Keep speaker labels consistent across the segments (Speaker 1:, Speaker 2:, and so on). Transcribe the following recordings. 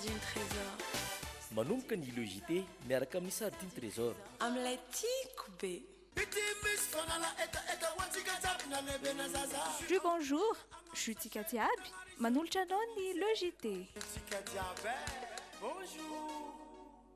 Speaker 1: Sardine Trésor. Manomboka
Speaker 2: ny Le JT miaraka amin'ny Sardine Trésor. Amin'ilay tiako
Speaker 1: be.
Speaker 3: Jus bonjour, jus tsika jiaby, manolotra anao ny Le JT.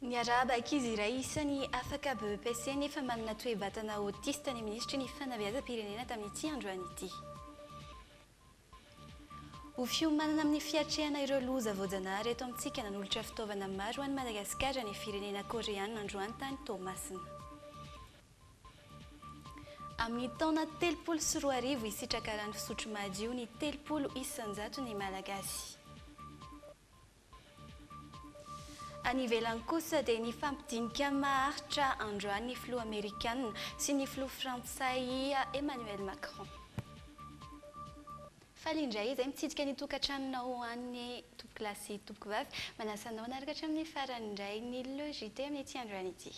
Speaker 4: Niarahaba ankizy iray isany afaka BEPC nefa manana toe-batana autiste ny minisitry ny Fanabeazam-pirenena tamin'ity androany ity. Ho fiomanana amin'ny fiatrehana ireo loza voajanahary eto amintsika nanolotra fitaovana maro ho an'i Madagasikara ny firenena Koreana androany tany Toamasina. Amin'ny taona telopolo sy roa arivo, hisitraka rano fisotro madio ny telopolo isan-jato ny Malagasy. Any ivelany kosa dia nifampidinika maharitra androany ny filoha amerikana sy ny filoha frantsay Emmanuel Macron. Faly indray izay mitsidika ny tokantranonao ho an'ny tompoko lahy sy tompoko vavy. Manasa anao hanaraka hatramin'ny farany indray ny Le JT amin'ity androany ity.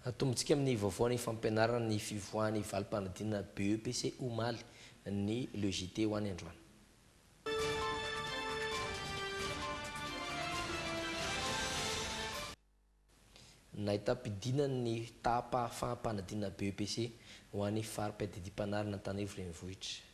Speaker 4: Atombontsika amin'ny
Speaker 5: vaovao ny fampianarana ny fivoahan'ny valim-panadinana BEPC omaly ny Le JT ho any androany. Nahitam-pidinana ny taham-pahafaham-panadinana BEPC ho an'ny fari-piadidiam-panarina Antananarivo Renivohitra.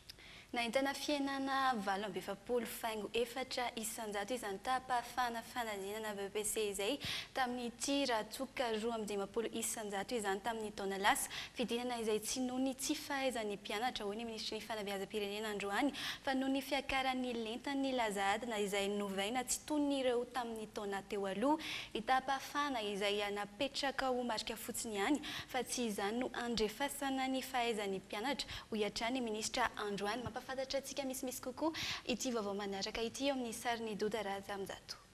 Speaker 5: Nahitana
Speaker 4: fihenana valo amby efapolo faingo efatra isan-jato izany taham-pahafahana fanadinana BEPC izay tamin'ity ratsoka roa amby dimampolo isan-jato izany tamin'ny taona lasa. Fidinana izay tsy noho ny tsy fahaizan'ny mpianatra, hoy ny minisitry ny Fanabeazam-pirenena androany, fa noho ny fiakaran'ny lentan'ny laza adina izay novaina tsy toy ny ireo tamin'ny taona teo aloha ny taham-pahafahana izay napetraka ho marika fotsiny ihany fa tsy izany no andrefasana ny fahaizan'ny mpianatra Hoy hatrany ny minisitra andro any. Mampahafantatra antsika misimisy kokoa ity vaovao manaraka ity eo amin'ny sarin'i Doda Razamjato.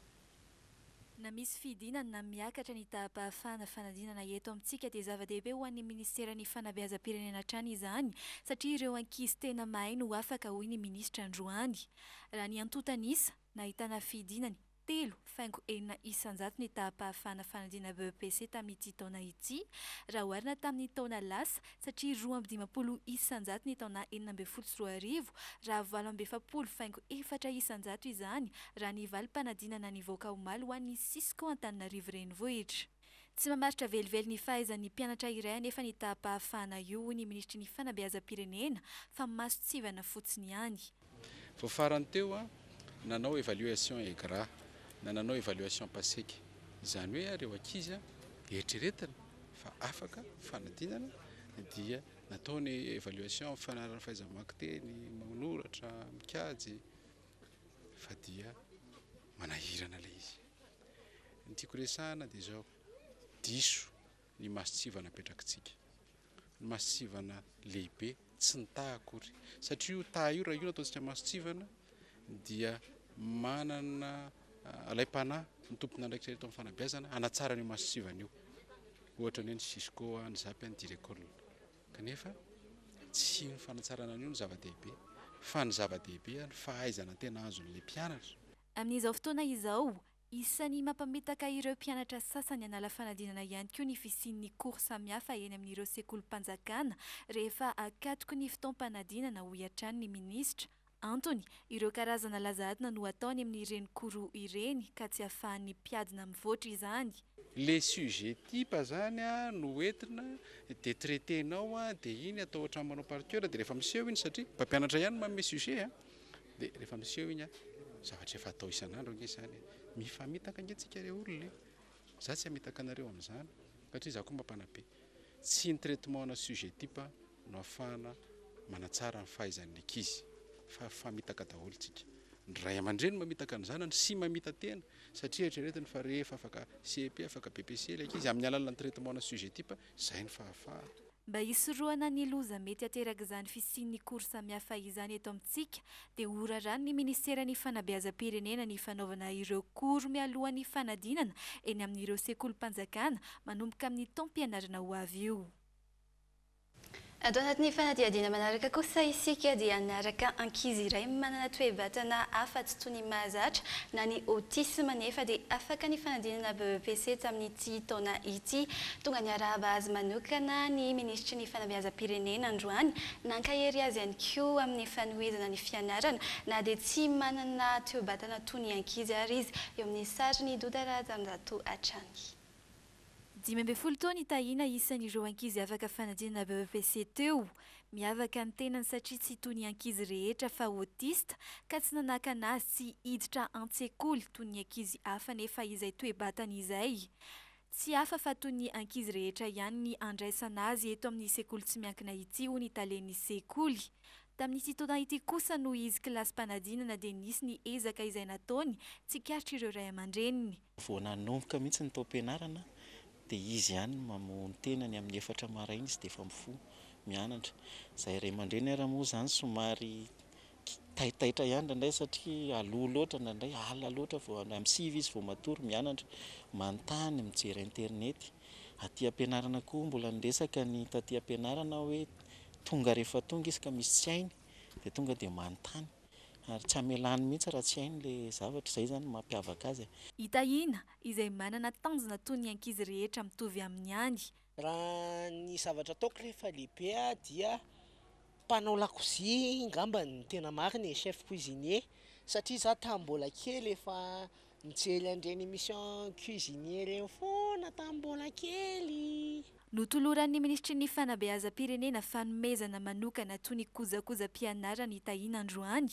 Speaker 3: Na misy fidinana na miakatra ny taham-pahafahana fanadinana eto amintsika dia zava-dehibe ho an'ny minisiteran'ny fanabeazam-pirenena hatrany izany satria ireo ankizy tena mahay no afaka, hoy ny minisitra androany. Raha ny antontan'isa nahitana fidinany, Telo, faingo enina isan-jato ny taham-pahafahana fanadinana BEPC tamin'ity taona ity, raha oharina tamin'ny taona lasa, satria roa amby dimampolo isan-jato ny taona enina ambin'ny folo sy roa arivo, raha valo amby efapolo faingo efatra isan-jato izany, raha ny valim-panadinana nivoaka omaly ho an'ny Cisco Antananarivo Renivohitra. Tsy mamaritra velively ny fahaizan'ny mpianatra iray anefa ny taham-pahafahana io, hoy ny minisitry ny Fanabeazam-pirenena, fa mason-tsivana fotsiny ihany. Vao farany
Speaker 6: teo, nanao evaluation EGRA na nanao evaluation PASEC. Izany hoe ireo ankizy eritreretina fa afaka fanadinana dia natao ny evaluation mifanaraka fahaiza-mamaky teny, manoratra, mikajy fa dia manahirana ilay izy. Ny tiako resahana dia izao, diso ny mason-tsiva napetrakitsika. Ny mason-tsivana lehibe, tsy ny taha akory. Satria io taha io, raha io no ataontsika mason-tsivana, dia manana alaim-panahy ny tomponandraikitra eto amin'ny fanabeazana hanatsara an'io mason-tsivana io. Ohatra ny hoe ny cisco, ny zap, ny direcol. Kanefa tsy ny fanatsarana an'io no zava-dehibe, fa ny zava-dehibe, ny fahaizana tena azon'ilay mpianatra. Amin'izao fotoana
Speaker 3: izao, isan'ny mampamitaka ireo mpianatra sasany hanala fanadinana ihany koa ny fisian'ny cours samihafa eny amin'ireo sekolim-panjakana rehefa akatoky ny fotoam-panadinana, hoy hatrany ny minisitra. Antony, ireo karazana laza adina no atao any amin'ireny cours ireny ka tsy ahafahan'ny mpiadina mivoatra izany. Le sujet
Speaker 6: type izany no entina dia traiter-nao dia iny atao ohatran'ny manao par coeur dia rehefa miseho iny satria mpampianatra ihany no manome sujet a! Dia rehefa miseho iny a, zavatra efa atao isan'andro ange izany e. Mifamitaka ange tsika re olona e. Za tsy hamitaka anareo amin'izany satria za koa mba mpanabe. Tsy ny traitement ana sujet type no ahafahana manatsara ny fahaizan'ny ankizy fa famitaka daholo tsika. Ny ray aman-dreny mamitaka ny zanany sy mamita-tena satria eritreretiny fa rehefa afaka CEP, afaka BPC ilay ankizy amin'ny alalan'ny traitement ana sujet type Izay ny fahafahana. Mba hisorohana
Speaker 3: ny loza mety aterak'izany fisian'ny cours samihafa izany eto amintsika dia horaranin'ny Ministeran'ny Fanabeazam-pirenena ny fanaovana ireo cours mialohan'ny fanadinana eny amin'ireo sekolim-panjakana manomboka amin'ny taom-pianarana ho avy io.
Speaker 4: Ato anatin'ny fanadihadiana manaraka kosa isika dia hanaraka ankizy iray manana toe-batana hafa tsy toy ny mahazatra na ny autisme nefa dia afaka ny fanadinana BEPC tamin'ity taona ity. Tonga niarahaba azy manokana ny Minisitry ny Fanabeazam-pirenena androany, nankahery azy ihany koa amin'ny fanohizana ny fianarana na dia tsy manana toe-batana toy ny ankizy ary izy, eo amin'ny sarin'i Doda Rahajanonjato hatrany. Dimy
Speaker 3: ambin'ny folo taona i Tahiana isan'ireo ankizy afaka fanadinana BEPC teo. Miavaka ny tenany satria tsy toy ny ankizy rehetra fa autiste ka tsy nanakana azy tsy hiditra an-tsekoly toy ny ankizy hafa nefa izay toe-batany izay. Tsy hafa fa toy ny ankizy rehetra ihany ny andraisana azy eto amin'ny sekoly tsy miankina ity hoy ny talen'ny sekoly. Tamin'ity taona ity kosa noho izy kilasim-panadinana dia nisy ny ezaka izay nataony tsikaritr'ireo ray aman-dreniny. Vao nanomboka
Speaker 7: mihitsy ny taom-pianarana dia izy ihany no mamoha ny tenany amin'ny efatra maraina izy dia efa mifoha mianatra. Izahay ray aman-dreny ary moa izany somary taitaitra ihany indraindray satria aloha loatra indraindray, alina loatra vao, amin'ny sivy izy vao matory mianatra, manontany, mijery internet. Aty am-pianarana koa mbola niresaka ny taty am-pianarana aho hoe tonga rehefa tonga izy ka misy tsy hainy dia tonga dia manontany. Ary tsy hamelany mihitsy raha tsy hainy ilay zavatra, izay izany no mampiavaka azy e. I Tahiana,
Speaker 3: izay manana tanjona toy ny ankizy rehetra mitovy aminy ihany. Raha
Speaker 8: ny zavatra ataoko rehefa lehibe aho dia mpanao lakozia ngamba no tena marina e, chef cuisinier, satria izaho tamin'ny mbola kely efa Nijery an'ireny émission cuisinier ireny foana tamin'ny mbola kely. Notoloran'ny
Speaker 3: Minisitry ny Fanabeazam-pirenena fanomezana manokana toy ny kojakojam-pianarana i Tahina androany.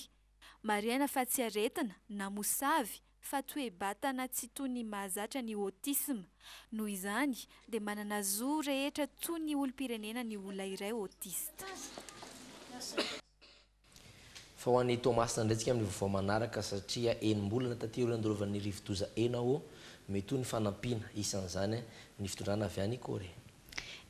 Speaker 3: Marihana fa tsy aretina, na mosavy, fa toe-batana tsy toy ny mahazatra ny autisme. Noho izany, dia manana zo rehetra toy ny olom-pirenena ny olona iray autiste.
Speaker 5: Fa ho an'i Toamasina indray tsika amin'ny vaovao manaraka satria enim-bolana taty aoriana nandorovan'ny rivodoza Enawo, mety ho ny fanampiana, isan'izany ny fitondrana avy any Korea.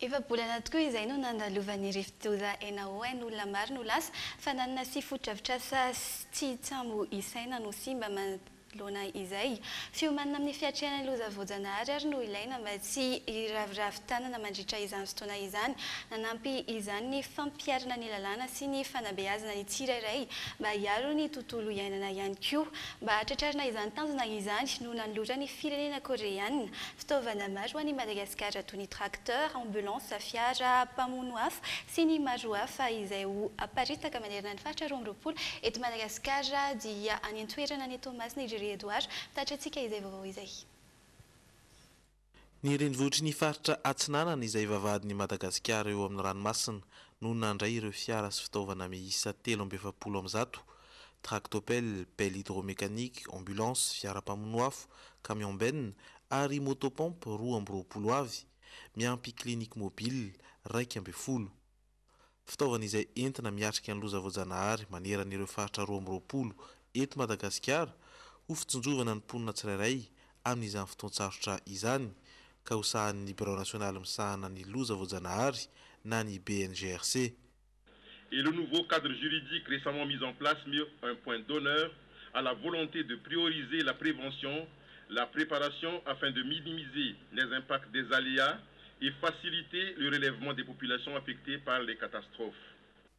Speaker 5: Efa-bolana
Speaker 4: tokoa izay no nandalovan'ny rivodoza Enawo ain' olona maro no lasa, fananana sy fotodrafitrasa tsy tsambo isaina no simba, loana izay. Fiomanana amin'ny fiatrehana ny loza voajanahary ary no ilaina mba tsy hiraviravy tanana mandritra izany fotoana izany. Nanampy izany ny fampiharana ny lalàna sy ny fanabeazana ny tsirairay mba hiaro ny tontolo iainana ihany koa. Mba hahatratrarana izany tanjona izany no nanoloran'ny firenena Koreana fitaovana maro an'i Madagasikara toy ny tracteur, ambulance, fiara mpamono afo sy ny maro hafa izay ho aparitaka manerana ny faritra roa amby roapolo eto Madagasikara dia any Toerana any Toamasina i Jerry Edouard, mpitatitra antsika izay vaovao izay.
Speaker 9: Ny renivohitry ny faritra Atsinanana izay vavahadin'i Madagasikara eo amin'ny ranomasina no nandray ireo fiara sy fitaovana miisa telo amby efapolo amin'ny zato, tractopelle, pelle hydromécanique, ambulance, fiara mpamono afo, camion-benne, ary moto-pompe roa amby roapolo avy, miampy clinique mobile raika ambin'ny folo. Fitaovana izay entina miatrika ny loza voajanahary manerana ireo faritra roa amby roapolo eto Madagasikara ho fitsinjovana ny mponina tsirairay amin'izany fotoan-tsarotra izany ka ho sahanin'ny Birao Nasionaly Misahana ny Loza Voajanahary na ny BNGRC.
Speaker 10: Et le nouveau cadre juridique récemment mis en place met un point d'honneur à la volonté de prioriser la prévention, la préparation afin de minimiser les impacts des aléas et faciliter le relèvement des populations affectées par les catastrophes.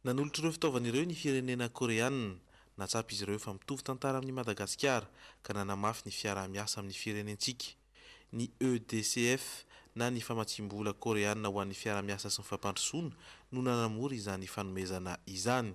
Speaker 10: Nanolotra ireo
Speaker 9: fitaovana ireo ny firenena Koreana. Nahatsapa izy ireo fa mitovy tantara amin'i Madagasikara ka nanamafy ny fiaraha-miasa amin'ny firenentsika. Ny EDCF na ny famatsiam-bola Koreana ho an'ny fiaraha-miasa sy ny fampandrosoana no nanamora izany fanomezana izany.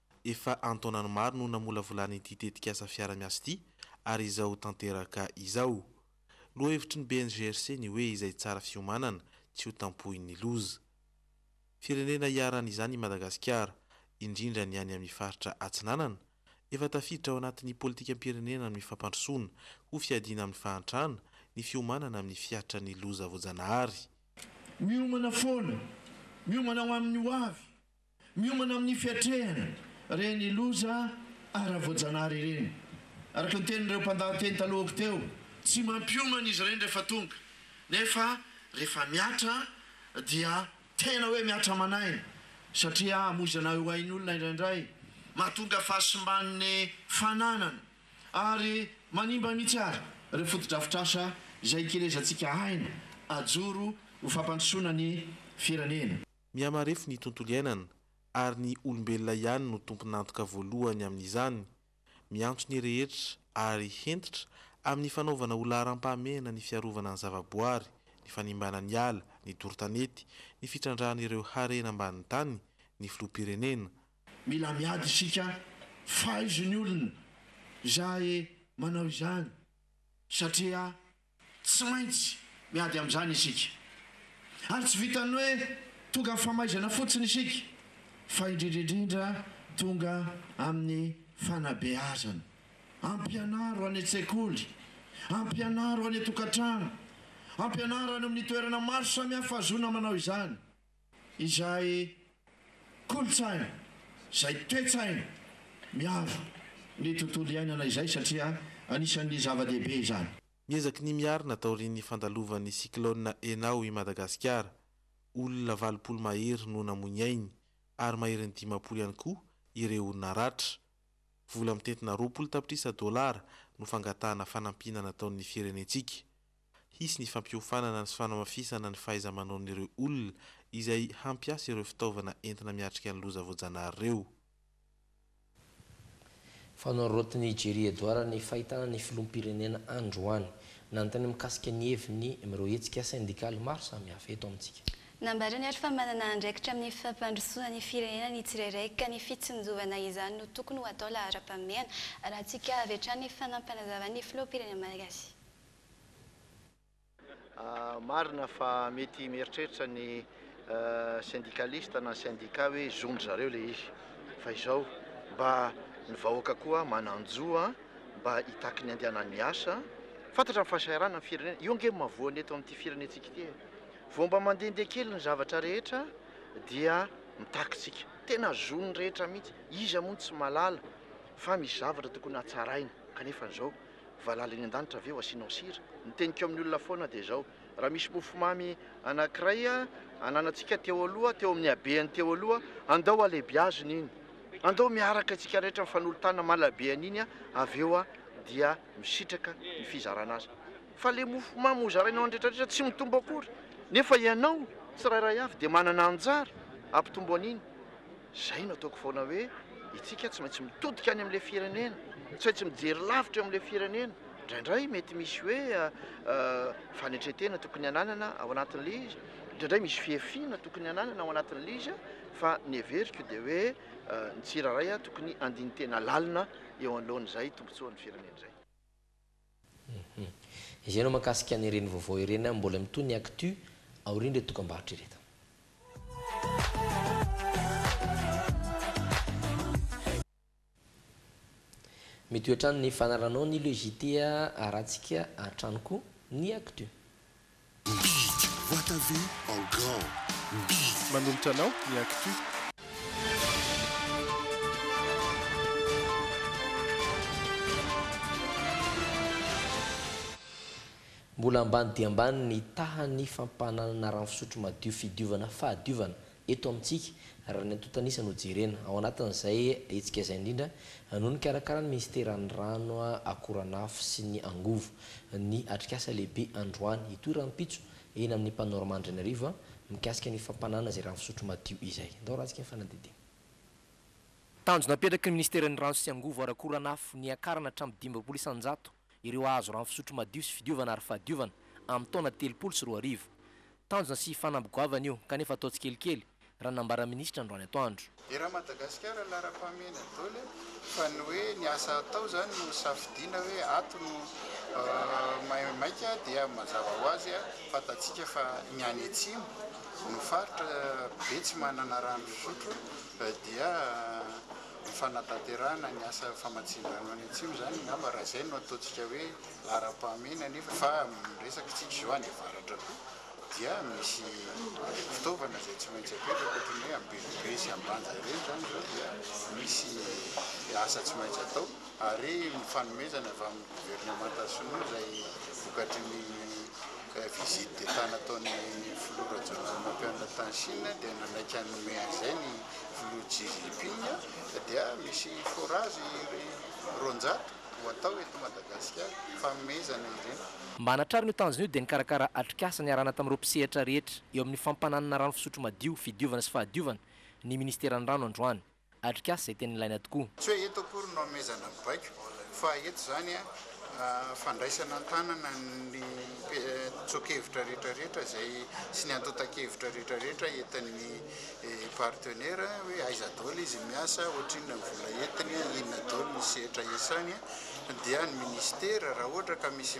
Speaker 9: Efa an-taonany maro no namolavolana ity tetikasa fiaraha-miasa ity ary izao tanteraka izao. Lohahevitry ny BNGRC ny hoe izay tsara fiomanana, tsy ho tampohin'ny loza. Firenena iharan'izany i Madagasikara, indrindra ny any amin'ny faritra Atsinanana, efa tafiditra ao anatin'ny politikam-pirenena amin'ny fampandrosoana ho fiadiana amin'ny fahantrana ny fiomanana amin'ny fiatran'ny loza voajanahary. Miomana
Speaker 11: foana, miomana ho amin'ny hoavy. Miomana amin'ny fiatrehana ireny loza ara-voajanahary ireny. Araka ny tenin'ireo mpandahateny talohako teo, tsy mampiomana izy ireny rehefa tonga, nefa rehefa mihatra dia tena hoe mihatra aman'aina, satria hamoizana eo ain'olona indraindray, mahatonga fahasimban'ny fananana, ary manimba mihitsy àry ireo fotodrafitrasa izay ikelezantsika aina hajoro ho fampandrosoana ny firenena. Mihamarefo ny
Speaker 9: tontolo iainana, ary ny olombelona ihany no tompon'antoka voalohany amin'izany. Miantso ny rehetra, ary hentitra, amin'ny fanaovana ho laharam-pahamehana ny fiarovana ny zavaboary, ny fanimbana ny ala, ny doro tanety, ny fitrandrahan'ireo harena ambanin'ny tany, ny filoham-pirenena. Mila miady
Speaker 11: isika faizo ny olona izay manao izany, satria Tsy maintsy miady amin'izany isika. Ary tsy vitan'ny hoe tonga amin'ny famaizana fotsiny isika, fa indrindra indrindra tonga amin'ny fanabeazana. Ampianaro any an-tsekoly, ampianaro any an-tokantrano, ampianaro any amin'ny toerana maro samihafa ahazoana manao izany. izay kolontsaina, izay toe-tsaina miaro ny tontolo iainana izay satria anisan'ny zava-dehibe izany. Miezaky ny miarina
Speaker 9: taorian'ny fandalovan'ny cyclone Enao i Madagasikara. Olona valopolo mahery no namoy ny ainy ary maherin'ny dimampolo ihany koa ireo naratra. Vola mitentina roapolo tapitrisa dolara no fangatahana fanampiana nataon'ny firenentsika. Hisy ny fampiofanana sy fanamafisana ny fahaiza-manaon'ireo olona izay hampiasa ireo fitaovana entina miatrika ny loza voajanahary ireo.
Speaker 5: Fanorotiny i Jerry Edouard ny fahitana ny filoham-pirenena androany. Nanontaniany mikasika ny heviny amin'ireo hetsika sendikaly maro samihafa eto amintsika. Nambarany ary fa
Speaker 4: manana andraikitra amin'ny fampandrosoana ny firenena ny tsirairay ka ny fitsinjovana izany no tokony ho atao laharam-pahamehana. Alantsika avy hatrany ny fanampanazavan'ny filoham-pirenena malagasy.
Speaker 12: Marina fa mety mieritreritra ny syndikalista na syndicat hoe zon-dry zareo ilay izy. Fa izao, mba ny vahoaka koa manan-jo mba hitaky ny handehanany miasa. Fantatra ny fahasahiranana ny firenena. Io ange no mahavoa ny eto amin'ity firenentsika ity e. Vao mba mandehandeha kely ny zavatra rehetra dia mitakitsika. Tena zon'ny rehetra mihitsy. Iza moa no tsy mahalala fa misy zavatra tokony hatsaraina kanefa izao Valala eny an-danitra ve ho asianao sira? Ny teniko amin'ny olona foana dia izao, raha misy mofomamy anankiray ananantsika teo aloha, teo amin'ny habehany teo aloha, andao halehibiazina iny, andao miaraka isika rehetra mifanolo-tanana malabe an'iny, avy eo dia misitraka ny fizarana azy. Fa ilay mofomamy hozaraina ho an'ny rehetrarehetra tsy mitombo akory, nefa ianao tsirairay avy dia manana anjara hampitombo an'iny. Izay no ataoko foana hoe itsika tsy maintsy mitodika any amin'ilay firenena, tsy maintsy mijery lavitra eo amin'ilay firenena. Indraindray mety misy hoe fanetren-tena tokony hananana ao anatin'ilay izy, indraindray misy fihafiana tokony hananana ao anatin'ilay izy, fa ny heveriko dia hoe ny tsirairay tokony handini-tena lalina eo anoloan'izay tombontsoan'ny firenena izay.
Speaker 5: Hum. Izay no mahakasika an'ireny vaovao ireny an, mbola mitohy ny actu aorian'ireto dokambarotra ireto. Mitohy hatrany ny fanaranao ny le JT a, arahantsika hatrany koa ny actu. Big,
Speaker 13: boite à vue en grand, big. Manolotra
Speaker 14: anao ny actu.
Speaker 5: Mbola ambany dia ambany ny tahan'ny fampananana rano fisotro madio fidiovana fahadiovana Eto amintsika, raha ny antontan'isa no jerena, ao anatin'izay hetsika izay indrindra no nikarakaran'ny minisiteran'ny Rano, Akoranafo sy ny Angovo ny atrikasa lehibe androany, hitohy rahampitso eny amin'ny Panorama Andrianarivo, mikasika ny fampanana izay rano fisotro madio izay. Andao ratsika ny fanadihadiana.
Speaker 15: Tanjona apetraky ny minisiteran'ny Rano sy Angovo ary Akoranafo ny hiakarana hatramin'ny dimy amby roapolo isan-jato ireo hahazo rano fisotro madio sy fidiovana ary fahadiovana amin'ny taona telopolo sy roa arivo. Tanjona sy fanamby goavana io kanefa atao tsikelikely, raha nambaran'ny minisitra androany atoandro. Era Madagasikara
Speaker 16: laharam-pahamehana dol e, fa ny hoe ny asa atao izany no safidiana hoe ato no maimaika dia mazava ho azy fantatsika fa ny any atsimo no faritra be tsy manana rano fisotro dia Ny fanatanterahana ny asa famatsian-drano any Atsimo izany angamba raha izay no ataontsika hoe laharam-pahamehana nefa fa amin'ny resaka antsika izao any avaratra koa dia misy fitaovana izay tsy maintsy apetraka ohatran'ny hoe Ambenibe sy Ambanja ireny izany izao dia misy asa tsy maintsy atao ary ny fanomezana avy amin'ny governemanta sinoa izay vokatry ny Visite d'Etat nataon'ny filoha Rajoelinapianina tany Chine dia nanaiky hanome an'izay ny filoha Xi Jinping dia misy forage roanjato ho atao eto Madagasikara, fanomezana ireny. Mba hanatrarana io
Speaker 15: tanjona io dia nikarakara atrikasa niarahana tamin'ireo mpisehatra rehetra eo amin'ny fampananana rano fisotro madio, fidiovana sy fahadiovana ny ministeran'ny rano androany. Atrikasa izay tena ilaina tokoa. Tsy hoe eto akory no
Speaker 16: anomezana ny baiko fa eto izany fandraisana an-tanana ny tsoa-kevitra rehetra rehetra izay sy ny antontan-kevitra rehetra rehetra entin'ny partenaire hoe aiza daholo izy miasa, ohatrinona ny vola entiny, inona daholo ny sehatra iasany dia ny ministera raha ohatra ka misy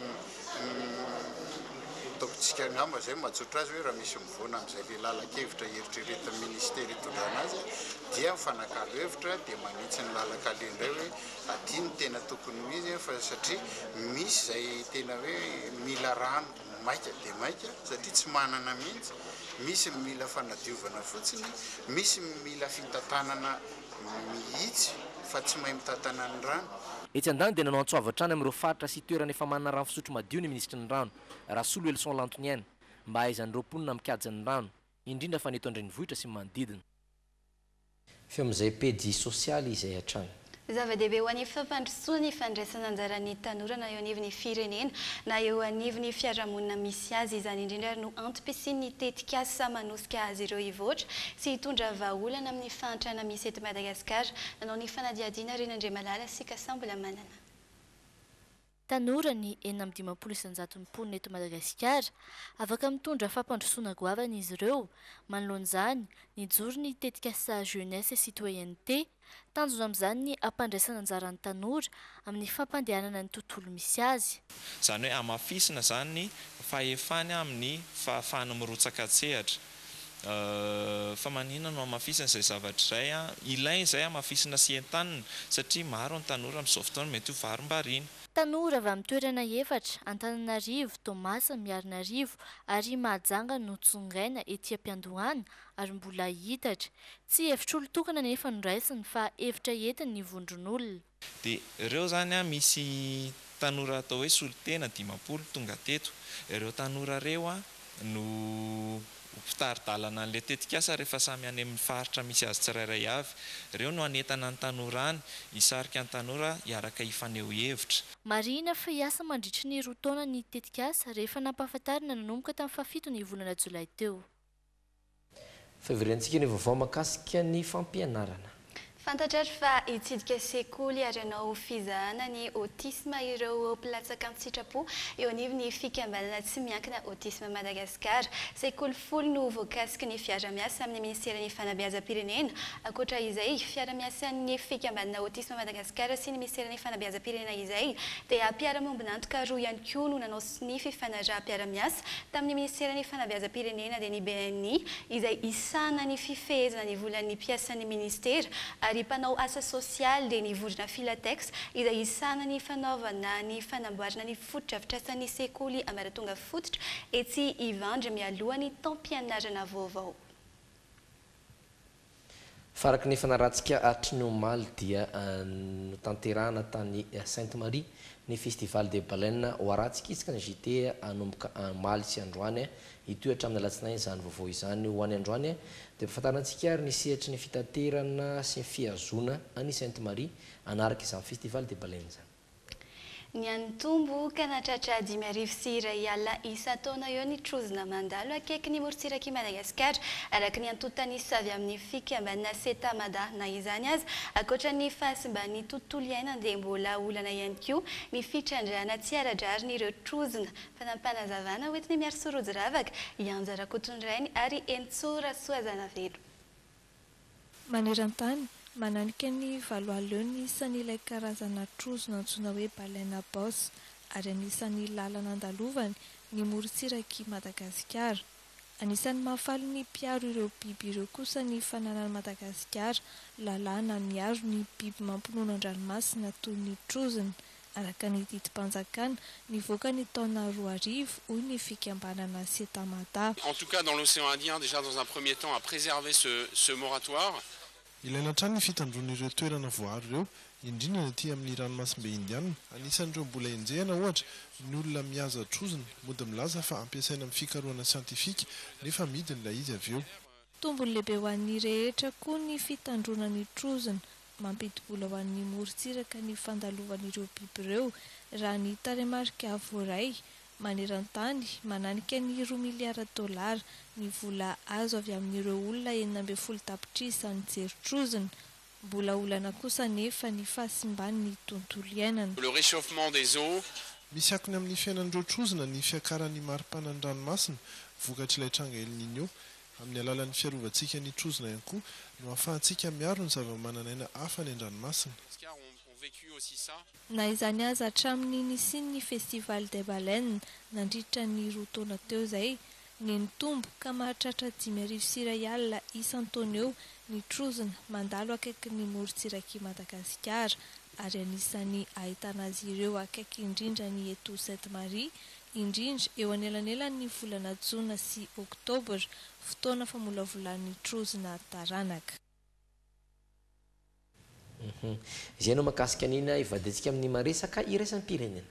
Speaker 16: ataovitsika angamba izay no mahatsotra azy hoe raha misy Afovoany amin'izay ilay lalan-kevitra eritreretin'ny minisitera itondrana azy dia mifanakalo hevitra dia manitsy ny lalan-kaleha indray hoe aty no tena tokony ho izy fa satria misy izay tena hoe mila rano maika dia maika satria tsy manana mihitsy, misy ny mila fanadiovana fotsiny, misy ny mila fitantanana mihitsy fa tsy mahay mitantana ny rano. Etsy an-daniny dia nanao
Speaker 15: antso avo hatrany amin'ireo faritra sy toerana efa manana rano fisotro madio ny minisitry ny rano, Rasoloelison Lantoniaina. mba hahaizan'ireo mponina mikajy ny rano, indrindra fa ny eto an-drenivohitra sy ny manodidina.
Speaker 5: Feo amin'izay pejy sosialy izay hatrany. Zava-dehibe ho an'ny
Speaker 4: fampandrosoana ny fandraisana anjaran'ny tanora na eo anivon'ny firenena na eo anivon'ny fiarahamonina misy azy. Izany indrindra ary no antom-pisian'ny tetikasa manosika azy ireo hivoatra sy hitondra vahaolana amin'ny fahantrana misy eto Madagasikara, nanao ny fanadihadiana Rinandriamalala sy Kasambola Manana.
Speaker 17: Tanora ny enina amby dimampolo isan-jaton'ny mponina eto Madagasikara. Afaka mitondra fampandrosoana goavana izy ireo. Manoloana izany, nijoro ny tetikasa Jeunesse et Citoyenneté. Tanjona amin'izany ny hampandraisana anjara ny tanora amin'ny fampandehanana ny tontolo misy azy. Izany hoe hamafisina
Speaker 18: izany ny fahefany amin'ny fahafahany mirotsaka an-tsehatra. Fa manina no hamafisina izay zavatra izay an? Ilaina izay hamafisina sy entanina satria maro ny tanora amin'izao fotoana mety ho varimbariana. Tanora avy amin'ny
Speaker 17: toerana efatra, Antananarivo, Toamasina, Miarinarivo ary Mahajanga no tsongaina ety am-piandohana ary mbola hiitatra. Tsy hevitr'olon-tokana anefa no raisiny fa hevitra entin'ny vondron'olona. Dia ireo
Speaker 18: izany an, misy tanora atao hoe Solotena dimampolo tonga teto. Ireo tanora ireo an, no ho mpitari-dalana an'ilay tetikasa rehefa samy any amin'ny faritra misy azy tsirairay avy. Ireo no hanentana ny tanora any, hisarika ny tanora hiaraka hifaneho hevitra. Marihina fa hiasa
Speaker 17: mandritry ny roa taona ny tetikasa, rehefa nampahafantarina nanomboka tamin'ny fahafito ny volana jolay teo. Fivoriantsika
Speaker 5: ny vaovao mahakasika ny fampianarana. Fantatrary
Speaker 4: fa hitsidika sekoly ary hanao fizahana ny autisme ireo mpilatsaka an-tsitrapo eo anivon'ny fikambanana tsy miankina Autisme Madagascar. Sekoly folo no voakasiky ny fiarahamiasa amin'ny Ministeran'ny Fanabeazam-pirenena. Ankoatra izay, fiarahamiasan'ny fikambanana Autisme Madagascar sy ny Miseran'ny Fanabeazam-pirenena izay dia mpiara-miombon'antoka roa ihany koa no nanao sy ny fifanaraham-piarahamiasa tamin'ny minisiteran'ny fanabeazam-pirenena dia ny BNI izay hisahana ny fifehezana ny volan'ny mpiasan'ny minisitera ary mpanao asa sosialy dia ny vondrona Filatex izay hisahana ny fanaovana ny fanamboarana ny fotodrafitrasan'ny sekoly ambaratonga fototra etsy Ivandry mialoha ny taom-pianarana vaovao.
Speaker 5: Faraky ny fanaratsika hatry ny omaly dia notanterahana tany Sainte Marie ny Festival des Baleines ho aratsika isaka ny JT hanomboka omaly sy androany hitohy hatramin'ny alatsinainy izany vaovao izany ho any androany dia ampafantarina antsika ary ny sehatry ny fitaterana sy ny fihazoana any Sainte Marie hanaraka izany Festival des Baleines izany.
Speaker 4: Niha-nitombo ka nahatratra dimy arivo sy iray alina isan-taona eo ny trozona mandalo akaiky ny morontsirak'i Madagasikara, araka ny antontanisa avy amin'ny fikambanana Ceta Mada. Na izany aza, ankoatra ny fahasimban'ny tontolo iainana dia mbola olana ihany koa ny fitrandrahana tsy ara-drarin'ireo trozona. Fanapanazavana hoentin'i Miary Sorojiravaka, Ianja Rakotonirainy ary Henintsoa Rasoazanavelo.
Speaker 2: Maneran-tany, mananika ny valo alina ny isan'ilay karazana trozona antsoina hoe Baleine à bosse ary anisan'ny lalana andalovany ny morontsirak'i Madagasikara. Anisan'ny mahafaly ny mpiaro ireo biby ireo kosa ny fananan'i Madagasikara lalàna miaro ny biby mampinono an-dranomasina toy ny trozona, araka ny didim-panjakana nivoaka ny taona roa arivo, hoy ny fikambanana Cetamada. En tout cas dans l'océan
Speaker 19: indien déjà dans un premier temps à préserver ce ce moratoire. Ilaina hatrany
Speaker 9: ny fitandroana ireo toerana voaaro ireo, indrindra ny aty amin'ny ranomasimbe Indiana. Anisan'ireo mbola enjehina, ohatra, ny olona mihaza trozona. Mody milaza fa ampiasaina amin'ny fikarohana siantifika, nefa amidiny ilay izy avy eo. Tombony lehibe ho
Speaker 2: an'ny rehetra koa ny fitandroana ny trozona. Mampidi-bola ho an'ny morontsiraka ny fandalovan'ireo biby ireo, raha ny tarehimarika voaray. Maneran-tany, mananika ny roa miliara dolara ny vola azo avy amin'ireo olona enina ambin'ny folo tapitrisa nijery trozona. Mbola olana kosa anefa ny fahasimban'ny tontolo iainana. Le réchauffement des
Speaker 19: eaux. Misy akony amin'ny
Speaker 9: fiainan'ireo trozona ny fiakaran'ny maripanan'ny ranomasina vokatr'ilay tranga El Niño. Amin'ny alalan'ny fiarovantsika ny trozona ihany koa no ahafahantsika miaro ny zavamananaina hafa any an-dranomasina. Na izany aza hatramin'ny nisian'ny Festival des Baleines nandritra ny roa taona teo izay, ny nitombo ka mahatratra dimy arivo sy iray alina isan-taona eo ny trozona mandalo akaikin'ny morontsirak'i Madagasikara ary anisan'ny ahitana azy ireo akaiky indrindra ny eto Sainte Marie indrindra eo anelanelan'ny volana jona sy oktobra fotoana famolavolan'ny trozona taranaka
Speaker 5: Izay no mahakasika ny ina ivadiantsika amin'ny maha-resaka iraisam-pirenena.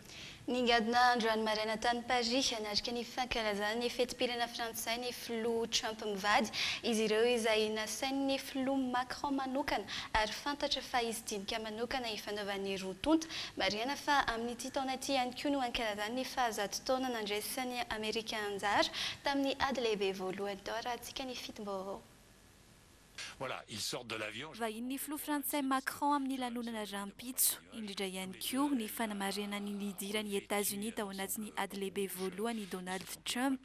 Speaker 5: Ningadina
Speaker 4: andro any maraina tany Paris hanatrika ny fankalazana ny fetim-pirenena frantsay ny filoha Trump mivady, izy ireo izay nasain'ny filoha Macron manokana ary fantatra fa hisy dinika manokana hifanaovan'ny roa tonta. Marihana fa amin'ity taona ity ihany koa no hankalazany ny fahazato taona nandraisan'ny Amerika anjara tamin'ny Ady Lehibe Voalohany tao raha antsika ny fitim-baovao.
Speaker 20: Voilà, ils sortent de l'avion. Vahinin'ny filoha frantsay
Speaker 3: Macron amin'ny lanonana rahampitso, indrindra ihany koa ny fanamarihana ny nidiran'i Etazonia tao anatin'ny ady lehibe voalohany i Donald Trump.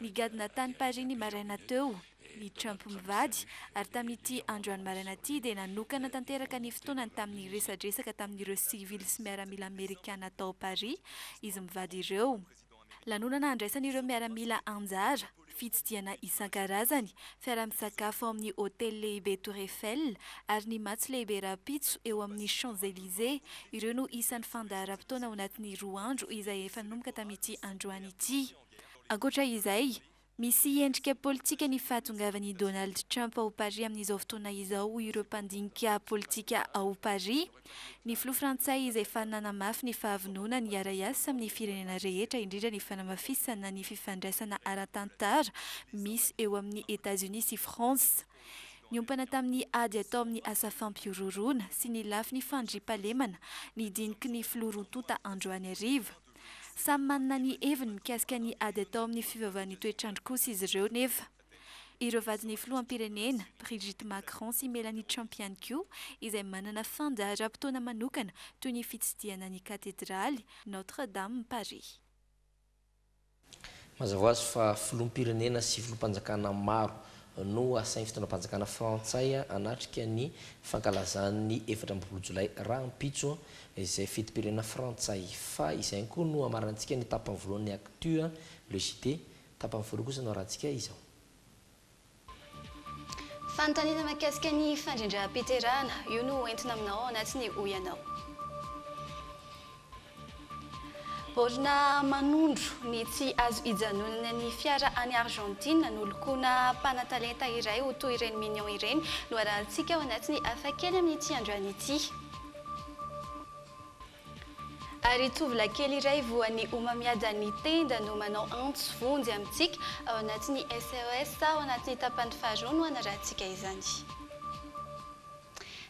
Speaker 3: Nigadona tany Paris ny maraina teo i Trump mivady ary tamin'ity androany maraina ity dia nanokana tanteraka ny fotoanany tamin'ny resadresaka tamin'ireo sivily sy miaramila Amerikana tao Paris izy mivady ireo. Lanonana handraisan'ireo miaramila anjara, fitsidihana isan-karazany, fiara-misakafo amin'ny hotely lehibe Tour Eiffel ary ny matso lehibe rahampitso eo amin'ny Champs-Elysées, ireo no isan'ny fandaharam-potoana ao anatin'ny roa andro izay efa nanomboka tamin'ity androany ity. Ankoatra izay, Misy endrika politika ny fahatongavan'i Donald Trump ao Paris amin'izao fotoana izao, hoy ireo mpandinika politika ao Paris. Ny filoha frantsay izay efa nanamafy ny fahavononany hiara-hiasa amin'ny firenena rehetra indrindra ny fanamafisana ny fifandraisana ara-tantara misy eo amin'i Etazonia sy France niompana tamin'ny ady atao amin'ny asa fampihorohoroana sy ny lafiny fandriampahalemana ny diniky ny filoha roa tonta androany hariva. Samy manana ny heviny mikasika ny ady atao amin'ny fivavahan'ny toetr'andro kosa izy ireo nefa. Ireo vadin'ny filoham-pirenena, Brigitte Macron sy Melanie Trump ihany koa, izay manana fandaharam-potoana manokana toy ny fitsidihana ny katedraly Notre Dame Paris.
Speaker 5: Mazava ho azy fa filoham-pirenena sy filoham-panjakana maro no asain'ny fitondram-panjakana frantsay hanatrika ny fankalazany ny efatra ambin'ny folo jolay rahampitso izay fetim-pirenena frantsay. Fa izay ihany koa no hamaranantsika ny tapany voalohany ny Actu, le JT. Tapany faharoa kosa no arahantsika izao.
Speaker 4: Fanontaniana mahakasika ny fandrindram-piterahana, io no hoentina aminao ao anatin'ny Hoy Ianao. Baolina manondro ny tsy azo ijanonana ny fiara any Argentine nolokoina mpanatalenta iray ho toy ireny Minions ireny no arahantsika ao anatin'ny Hafakely amin'ity androany ity. Ary tovolahy kely iray voan'ny homamiadan'ny tenda no manao antso vonjy amintsika ao anatin'ny SOS ao anatin'ny tapany faharoa no hanarahantsika izany.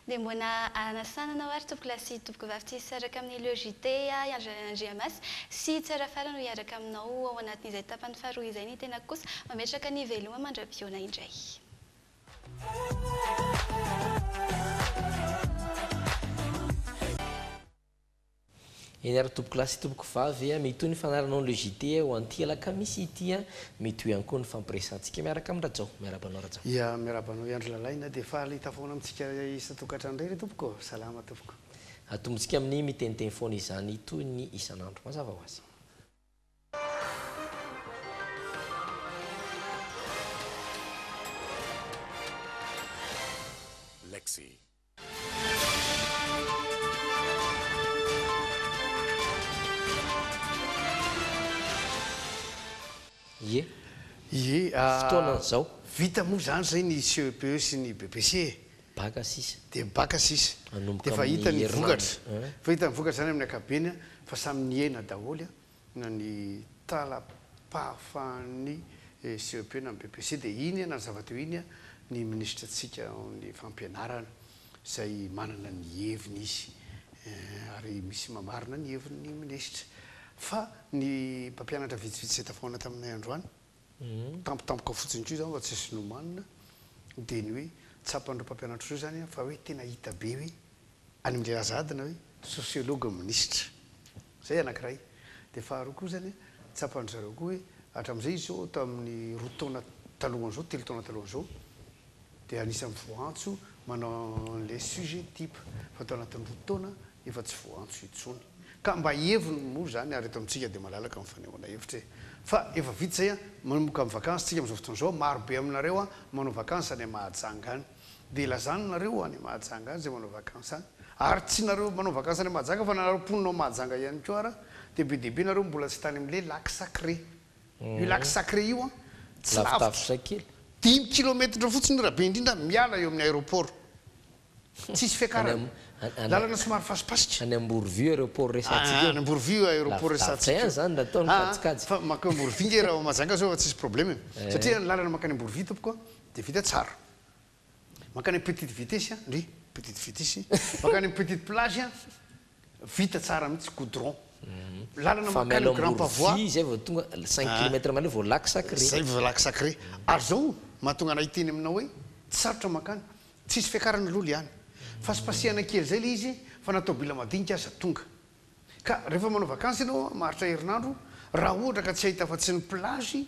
Speaker 4: Dia mbola anasana anao ary tompoko lahy sy tompoko vavy tsy hisaraka amin'ny Le JT ahy Andry Lalana Andriamasy sy Tsarafara no hiaraka aminao ao anatin'izay tapany faharoa izay ny tenako kosa mametraka ny veloma mandra-pihaona indray.
Speaker 5: Eny ary tompokolahy sy tompokovavy a, mitohy ny fanaranao ny le JT ho an'ity alakamisy ity a, mitohy ihany koa ny fampiresantsika miaraka amin'i Rajao. Miarahaba anao Rajao. Ia, miarahaba anao ihany ry
Speaker 1: Lalaina, dia faly hita foana amintsika isan-tokantrano indray re tompoko. Salama tompoko. Atombontsika amin'ny
Speaker 5: miteniteny foana izany toy ny isan'andro. Mazava ho azy.
Speaker 13: Lexy.
Speaker 5: Ie. Ie. Fotoana izao. Vita moa izany izay
Speaker 1: ny CEPE sy ny BEPC e. Baka sisa.
Speaker 5: Dia baka sisa.
Speaker 1: Dia efa hita ny vokatra. Efa hita ny vokatra izany amin'ny ankapobeny fa samy nihena daholo na ny tala-pahafahan'ny CEP na ny BEPC. Dia iny na ny zava-teo iny ny minisitra antsika ao amin'ny fampianarana izay manana ny heviny izy ary misy mamarina ny heviny ny minisitra. Fa ny mpampianatra vitsivitsy izay tafahoana taminay androany, tampotampoka fotsiny koa izany fa tsisy nomanina dia ny hoe tsapan'ireo mpampianatra ireo izany an fa hoe tena hita be hoe any amin'ilay Azad na hoe sociologue minisitra. Izay anankiray. Dia faharoa koa izany an, tsapan-dry zareo koa hoe hatramin'izay izy izao tamin'ny roa taona talohan'izao, telo taona talohan'izao dia anisan'ny voantso manao an'ilay sujet type fa tao anatin'ny roa taona efa tsy voantso intsony ka mba heviny moa izany ary eto amintsika dia malalaka ny fanehoana hevitra e! fa efa vita izay an! manomboka ny vakansy tsika amin'izao fotoana izao maro be aminareo an! manao vakansy any Mahajanga any dia lazany nareo any Mahajanga any izay manao vakansy any ary tsy nareo manao vakansy any Mahajanga fa nareo mponina ao Mahajanga ihany koa ara dia be dia be nareo mbola tsy tany amin'ilay lac sacré io lac sacré io an! tsy lavitra dimy
Speaker 5: kilometatra
Speaker 1: fotsiny raha be indrindra miala eo amin'ny aéroport Tsisy fiakarana. Lalana somary fasipasika. Any Amborovio aeroport
Speaker 5: resatsika eo. Any Amborovio aeroport
Speaker 1: resatsika eo. Lavitsa ihany zany raha atao ny kajikajy.
Speaker 5: Fa mankeo Amborovio nge
Speaker 1: raha ao Mahajanga zao fa tsisy problème e. Satria ny lalana mankany Amborovio tompoko a dia vita tsara. Mankany Petite Vitesse a, ndry, Petite Vitesse, mankany Petite Plage a, vita tsara mihitsy, goudron. Lalana mankany Grand Pavois. Avy ao Amborovio izay vao tonga, cinq
Speaker 5: kilomètres mahery vao lac sacré. Zay vao lac sacré.
Speaker 1: Ary zao mahatonga anah hiteny aminao hoe tsy sarotra mankany. Tsisy fiakarana lolo ihany. Fasipasihana kely zay le izy fa na tôbila madinika aza tonga. Ka rehefa manao vakansy ianao an, maharitra herinandro, raha ohatra ka tsy hahita afa tsy ny plage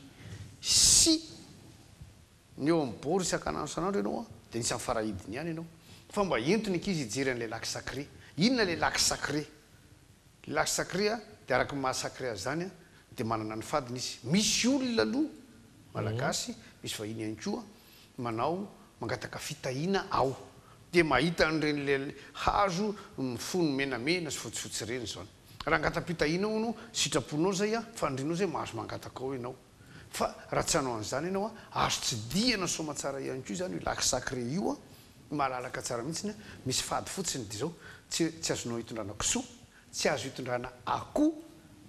Speaker 1: sy ny eo amin'ny bord isankanandro isanandro ianao an, de anisan'ny farahidiny ihany ianao. Fa mba ento ny ankizy hijery an'ilay lac sacré. Inona ilay lac sacré? Ilay lac sacré an, de araka ny maha sacré azy zany an, de manana ny fadiny izy. Misy olona aloha, malagasy, misy vahiny ihany koa, Manao mangataka fitahiana aho dia mahita an'ireny le hazo mifono menamena sy fotsifotsy ireny izao. Raha hangatam-pitahiana hono sitraponao izay an, fanirianao izay mahazo mangataka ao ianao. Fa raha tsy hanao an'izany ianao an, azo tsidihana soamatsara ihany koa izany io lac sacré io an, malalaka tsara mihitsy an, misy fady fotsiny dia izao, tsy tsy azonao hitondrana kisoa, tsy azo hitondrana akoho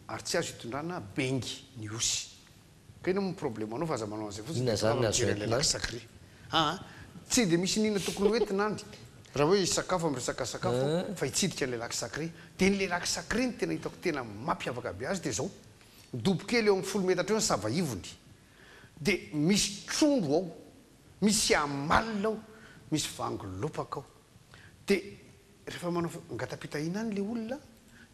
Speaker 1: ary tsy azo hitondrana bengy ny osy. Ka inona moa ny problemanao fa aza manao an'izay fotsiny dia ataonao raha mijery an'ilay lac sacré. Aa tsy dia misy iniana tokony ho entina any raha hoe hisakafo amin'ny resaka sakafo aho fa hitsidika an'ilay lac sacré. Dia an'ilay lac sacré ny tena hitako tena mampiavaka be azy dia izao, dobo kely eo amin'ny folo metatra eo ny sava ivony, dia misy trondro ao, misy amalona ao, misy vango lopaka ao. Dia rehefa manao ngata-pitahina any ilay olona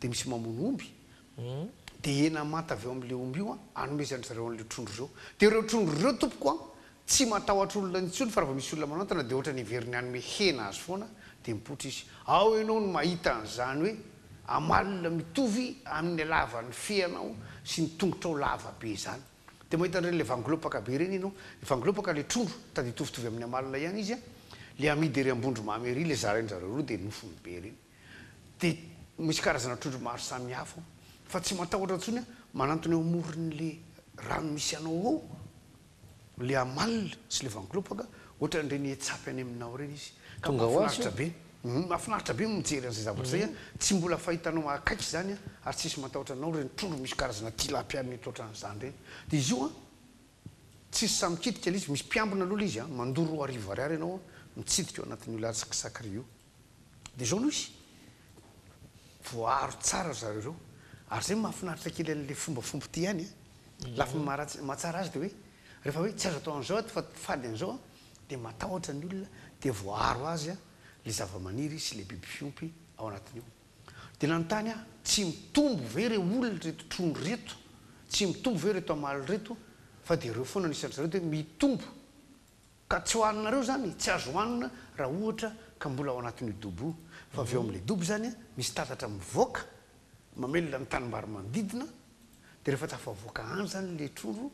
Speaker 1: dia misy mamono omby, Dia hena manta avy ao amin'ilay omby io hanomezan-dry zareo an'ireo trondro ireo. Dia ireo trondro ireo, tompoko an, tsy matahotra olona intsony, fa raha vao misy olona manantona, dia hoatran'ny heveriny hanome hena azy foana, dia mipoitra izy. Ao ianao no mahita an'izany hoe amalona mitovy amin'ny halavan'ny feanao sy ny tongotrao lava be izany. Dia mahita an'ireny ilay vangilopaka be ireny ianao. Ny vangilopaka ilay trondro, tady hitovitovy amin'ny amalona ihany izy an, ilay amidy ery Ambondromamy ery, ilay zarain-dry zareo roa dia nofony be ireny. Dia misy karazana trondro maro samy hafa ao. Fa tsy matahotra intsony aho, manantona eo amoron'ilay rano misy anao ao, ilay amalona sy ilay vanglopaka, ohatran'ireny hetsapy any aminao ireny izy. Ka mahafinaritra be. Hum, mahafinaritra be ny mijery an'izay zavatra izay an! Tsy mbola fahitanao akaiky izany an! Ary tsy hisy matahotra anao ireny trondro misy karazana tilapia mety ohatran'izany ireny. Dia izy io an, tsy izy samy mikitika ilay izy, misy mpiambina aloha ilay izy an, mandoa roa arivo ariary ianao an, mitsidika ao anatin'io latsak'i Sakri io. Dia izao no izy, voaaro tsara ry zareo ireo. Ary izay no mahafinaritra kely an'ilay fombafomba ity ihany an! Ny lafiny maharatsy, mahatsara azy dia hoe, rehefa hoe tsy azo atao an'izao ato fa fady an'izao an! dia matahotra ny olona, dia voaaro azy an, ilay zavamaniry sy ilay biby fiompy ao anatiny ao. Dia nanontany aho, tsy mitombo ve ireo olona, ireto trony ireto, tsy mitombo ve ireto hamaly ireto, fa dia ireo foana no isan-dry zareo dia hoe, mitombo. Ka tsy hohaninareo izany e, tsy azo hohanina raha ohatra ka mbola ao anatin'io dobo io, fa avy eo amin'ilay dobo izany misy tatatra mivoaka mamelona ny tanimbary manodidina, dia rehefa tafavoaka any izany ilay trondro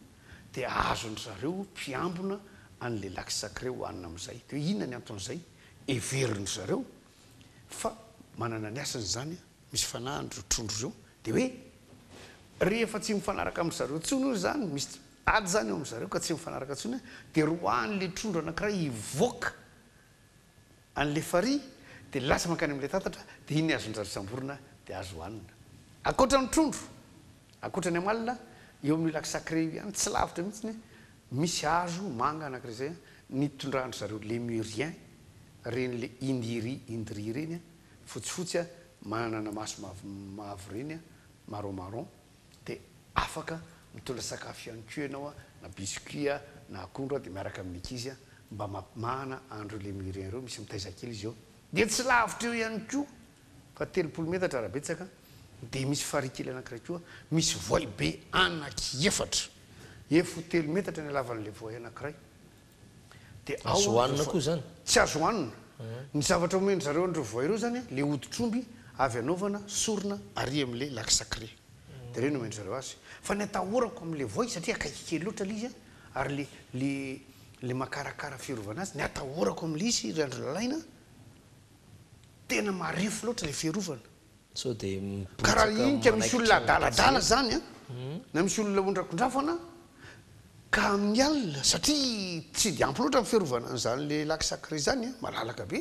Speaker 1: dia azon-dry zareo mpiambina an'ilay lac sacré hohanina amin'izay. Dia hoe inona ny anton'izay? Heverin-dry zareo fa manana ny hasiny izany an! misy fanahy an'ireo trondro ireo dia hoe rehefa tsy mifanaraka amin-dry zareo intsony hoy izany, misy ady izany eo amin-dry zareo ka tsy mifanaraka intsony, dia roahin'ilay trondro anankiray hivoaka an'ilay farihy dia lasa mankany amin'ilay tatatra dia iny azon-dry zareo samborina dia azo hohanina. Ankoatra ny trondro, ankoatra ny amalona, eo amin'io lac sacré io ihany, tsy lavitra mihitsy, misy hazo manga anankiray izay nitondran-dry zareo Lémuriens, ren'ilay Indiri, Indri ireny, fotsifotsy a, manana maso mavomavo ireny a, marron marron, dia afaka mitondra sakafo ihany koa ianao a, na biscuit a, na akondro a, dia miaraka amin'ny ankizy a, mba mampimahana andro ireo miriens ireo, misy mitaiza kely izy eo, dia tsy lavitra eo ihany koa fa telopolo metatra raha betsaka, dia misy farihy kely anankiray koa, misy voay be anaky efatra, efo telo metatra ny halavan'ilay voay anankiray, Azo hohanina
Speaker 5: koa izany? Tsy azo hohanina.
Speaker 1: Ny zavatra omen-dry zareo an'ireo voay ireo izany ilay hoditr'omby avy anaovana sorona arỳ amin'ilay lac sacré. Dia ireny omen-dry zareo azy. Fa ny atahorako amin'ilay voay, satria akaiky kely loatra ilay izy, ary ilay, ilay, ilay makarakara fiarovana azy, ny atahorako amin'ilay izy, ry andry Lalaina, tena marefo loatra ilay fiarovana.
Speaker 5: Ka raha hinika
Speaker 1: misy olona adaladala zany an, na misy olona ondrakondrafana ka amin'ny alina satria tsy dia ampy loatra ny fiarovana an'izany le lac sacré zany an, malalaka be,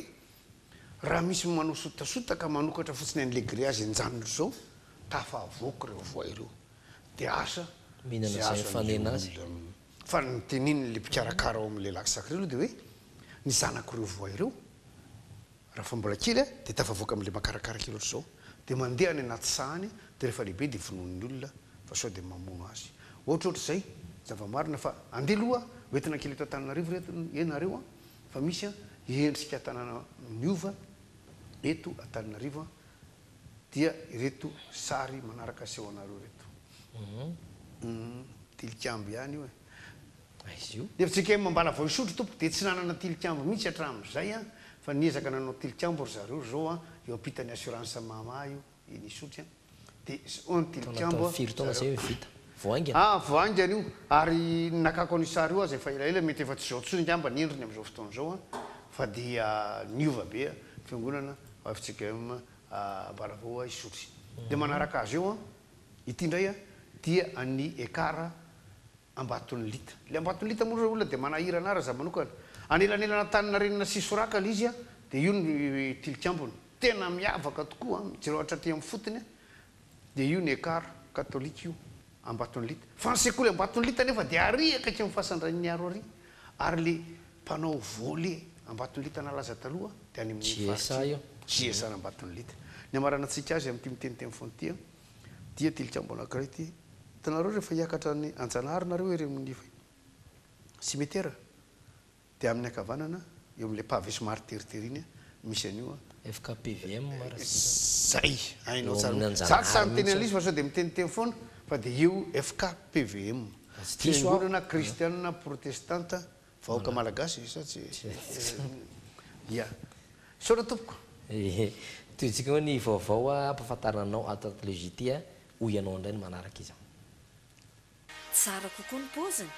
Speaker 1: raha misy manao sotasota ka manokatra fotsiny an'le grillage enjanony zao, tafavoaka reo voay reo. DH, ze azo an'ireo olona.
Speaker 5: Fa ny
Speaker 1: notenenin'le mpikarakara ao amin'le lac sacré aloha de hoe, ny zanak'ireo voay reo, Raha fa mbola kely aho dia tafavoaka amin'ilay makarakara kely ohatr'izao dia mandeha any anaty sahany dia rehefa lehibe dia vonoin'ny olona fa sao dia mamono azy ohatrohatr'izay zava-marina fa andeha aloha ho entina kely eto Antananarivo ireto e nareo a fa misy a endrika tanàna miova eto Antananarivo a dia ireto sary manaraka aseho anareo ireto uhm tilikambo ihany io e Ny fjkm
Speaker 5: ambala vao hisotro
Speaker 1: tompoko dia tsy nanana tilikambo mihitsy hatramin'izay an, fa niezaka nanao tilikambo ry zareo zao an, eo ampitan'ny assurance mama io iny hisotry an, dia zao an tilikambo zareo, ah
Speaker 5: vao haingana io,
Speaker 1: ary ny nakako an'io sary io aza efa elaela mety efa tsy zao tsony ngamba ny endriny amin'izao fotoana izao an, fa dia niova be an, fiangonana ao fjkm ambala vao hisotry, dia manaraka azy eo an, ity indray an dia an'i Ekar Ambatonilita. Ilay Ambatonilita moa ireo olona dia manahirana ahy raha izaho manokana. Anelanelana Antaninarenina sy Soraka ilay izy an, dia io no tilikambony. Tena miavaka tokoa an, jereo hatraty amin'ny fotony an, dia io ny Ekar, Katolika io, Ambatonilita. Fa ny sekoly Ambatonilita anefa dia ary akaiky ny fasan-dRainimiaro ary, ary ilay mpanao volley Ambatonilita nalaza taloha dia any amin'iny faritra iny. JSA Ambatonilita. Ny amaranan-tsika azy amin'ity miteniteny foana ity an. Dia tilikambo anankiray ity. Hitanareo rehefa hiakatra any Anjanahary nareo ery amin'ny simetera dia amin'ny ankavanana eo amin'ilay pavé somary teritery iny misy an'io an. Fkpvm
Speaker 5: Ratsiraka.
Speaker 1: Zay! Hainao tsara mihitsy. Za tsy sahy miteny an'ilay izy fa sao dia miteniteny foana fa dia io fkpvm. Fisoronana kristianina protestanta. Vahoaka malagasy sa tsy ia. Misaotra tompoko. Ehe.
Speaker 5: Tohintsika hoe ny vaovao ampahafantarina anao ato anaty le JT a. Ho ianao indray ny manaraka izao.
Speaker 21: Tsara kokoa ny paoziny.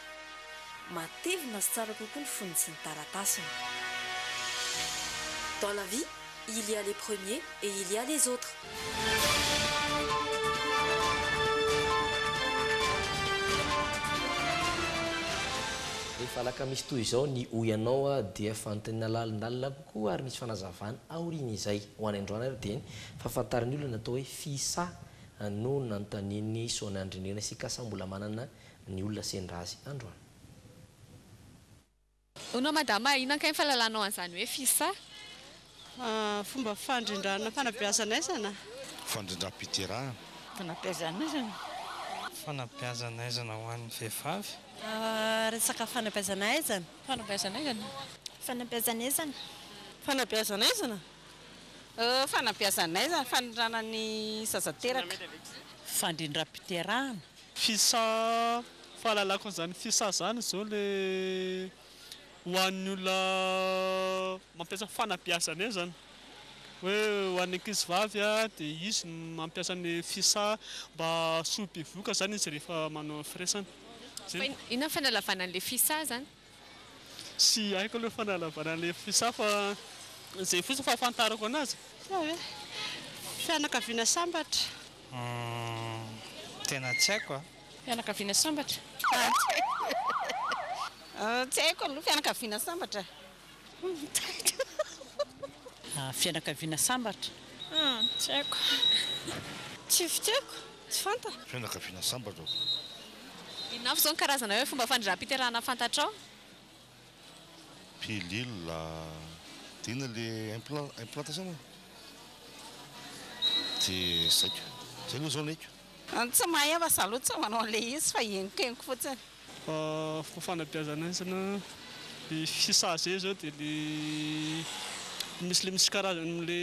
Speaker 21: Matevina sy tsara kokoa ny fonony sy ny taratasiny. Dans la vie, Il y a les premiers et il y a les autres.
Speaker 5: Rehefa alakamisy toy izao ny hoy anao dia fanontaniana lalindalina kokoa ary misy fanazavana aorian'izay. Ho any androany ary dia ny fahafantaran'ny olona ny atao hoe fisa no nanontanian'i Sona an-dry Nirina sy Kasa mbola manana ny olona sendra azy androany.
Speaker 22: Hono madama a, inona kay ny fahalalanao an'izany hoe fisa?
Speaker 6: Fomba fandrindrana fanabeazana aizana. Fandrindram-piterahana.
Speaker 23: Fanabeazana
Speaker 6: aizana.
Speaker 18: Fanabeazana aizana ho an'ny vehivavy. Resaka
Speaker 6: fanabeazana aizana. Fanabeazana aizana. Fanabeazana
Speaker 22: aizana.
Speaker 6: Fanabeazana aizana. Fanabeazana aizana, fanindràna ny zaza teraka. Fandrindram-piterahana. Fisa
Speaker 7: fahalalako an'izany fisa izany izao ilay ho an'ny olona mampiasa fanabeazana eo izany hoe ho an'ny ankizivavy dia izy no mampiasa ny fisa mba soa bevohoka izany izy rehefa manao ny firaisana. Inona
Speaker 22: ny fanalavana an'ilay fisa izany? Tsy
Speaker 7: haiko aloha fanalavana an'ilay fisaha fa izay fotsiny fahafantarako anazy. Inona ve? Fianakaviana
Speaker 6: sambatra. Humm
Speaker 8: tena tsy haiko a. Fianakaviana sambatra?
Speaker 6: Tsy haiko aloha fianakaviana sambatra. Fianakaviana sambatra? Tsy haiko. Tsy fitiaviko, tsy fantako. Fianakaviana sambatra
Speaker 23: zao.
Speaker 22: Inona avy zao ny karazana hoe fomba fandrindram-piterahana fantatrao?
Speaker 23: Pilule, dia inona le implant, implantation moa? Dia zay ko. Zay aloha zao ny haiko. Ny tsy mahay aho fa za aloha
Speaker 6: tsy manao an'ilay izy fa henokenoky fotsiny. Fa
Speaker 7: fanabeazana izy na ny fisazy zao dia le misy le misy karazany amle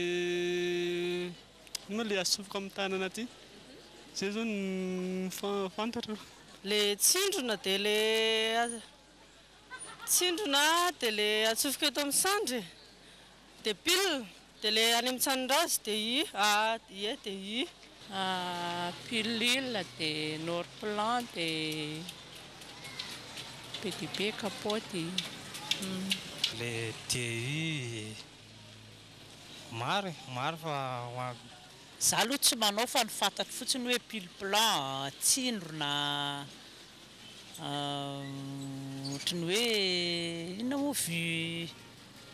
Speaker 7: inona le asofoka amin'ny tanana aty zay zao no fantatra. Le
Speaker 6: tsindrona dia le. Tsindrona dia le atsofoka eto amin'ny sandry e. Dia pile dia le any amin'ny tsanindrazy dia i a ie dia i. Pilule
Speaker 10: dia norplan dia be dia be kapaoty
Speaker 8: e. Le DI maro e, maro fa ho an. Za
Speaker 6: aloha tsy manao fa ny fantatro fotsiny hoe pile plan, tsindrona. Ohatry ny hoe inona moa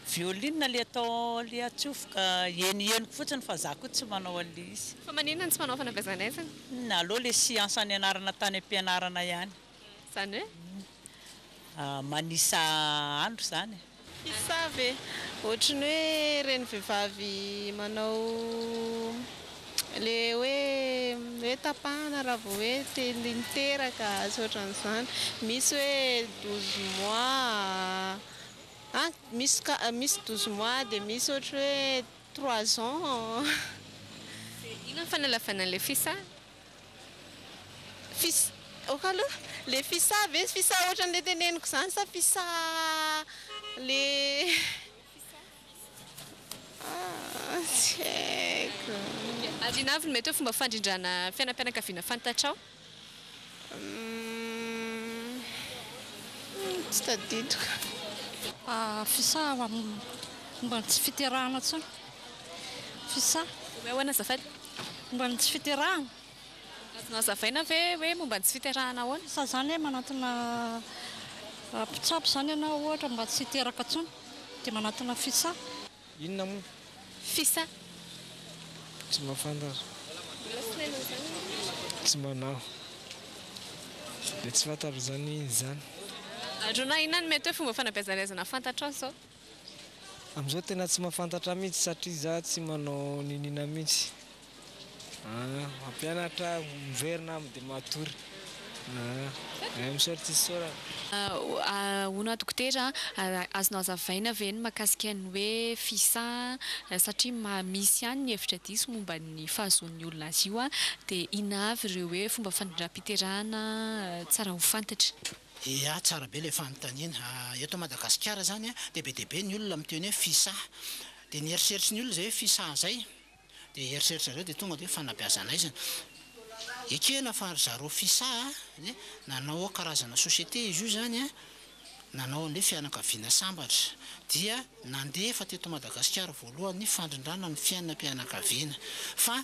Speaker 6: violina le atao le atsofoka heniheniko fotsiny fa za ko tsy manao anle izy. Fa maninona no tsy manao
Speaker 22: fanabezana aizina? Inona aloha le siansa
Speaker 6: nianarana tany ampianarana ihany? Zany hoe? Manisa andro zany e. Mpisava e!
Speaker 24: Ohatry ny hoe ireny vehivavy manao le hoe hoe tapahana raha vao hoe te niteraka sy ohatran'izany. Misy hoe douze mois, an misy ka misy douze mois dia misy ohatry hoe trois ans. Dia
Speaker 22: inona no fanalavana an'ilay fisava? Fis,
Speaker 24: ok aloha, le fisa ve sy fisa ohatran'le teneniko zany sa fisa le ah tsy haiko. Ary inona avy
Speaker 22: no mety hoe fomba fandrindrana fiainam-pianakaviana fantatrao? Humm
Speaker 24: tsy tadidiko.
Speaker 25: Fisa ho amin'ny momba ny tsy fiterahana intsony. Fisa, Omeo ahoana
Speaker 22: azafady? Momba ny tsy
Speaker 25: fiterahana. Azonao
Speaker 22: hazavaina ve hoe momba ny tsy fiterahana ahoana? Sa izany hoe manantona
Speaker 25: mpitsabo izany ianao ohatra mba tsy hiteraka intsony dia manantona fisa? Inona moa?
Speaker 8: Fisa, Tsy mahafantatra. Mbola tsy nainao izany ve? Tsy mba naho. Dia tsy fantatro izany izy izany. Ary hono
Speaker 22: inona no mety hoe fomba fanabeazana aizana fantatrao izao? Amzao
Speaker 8: tena tsy mafantatra mihitsy satria za tsy manao niniana mihitsy ah mampianatra miverina am de matory ah eh misaotra tsy isaorana. Ahoana dokotera
Speaker 22: a, azonao azavaina ve ny makasika ny hoe fisa a, satria ma misy ihany ny hevitra diso momba ny fahazoan'ny olona azy io a, dia inona avy ireo hoe fomba fandrindram-piterahana tsara ho fantatra? Iaa, tsara
Speaker 26: be ilay fanontaniana. Eto Madagasikara izany dia be dia be ny olona miteny hoe fisaha. Dia ny eritreritry ny olona izay hoe fisaha izay dia eritreritry zareo dia tonga dia hoe fanabeazan'aizana. Ekena fa ry zareo fisaha dia nanao karazana société izy io izany an, nanao an'ilay fianakaviana sambatra. Dia nandefa teto Madagasikara voalohany ny fandrindrana ny fiainam-pianakaviana. Fa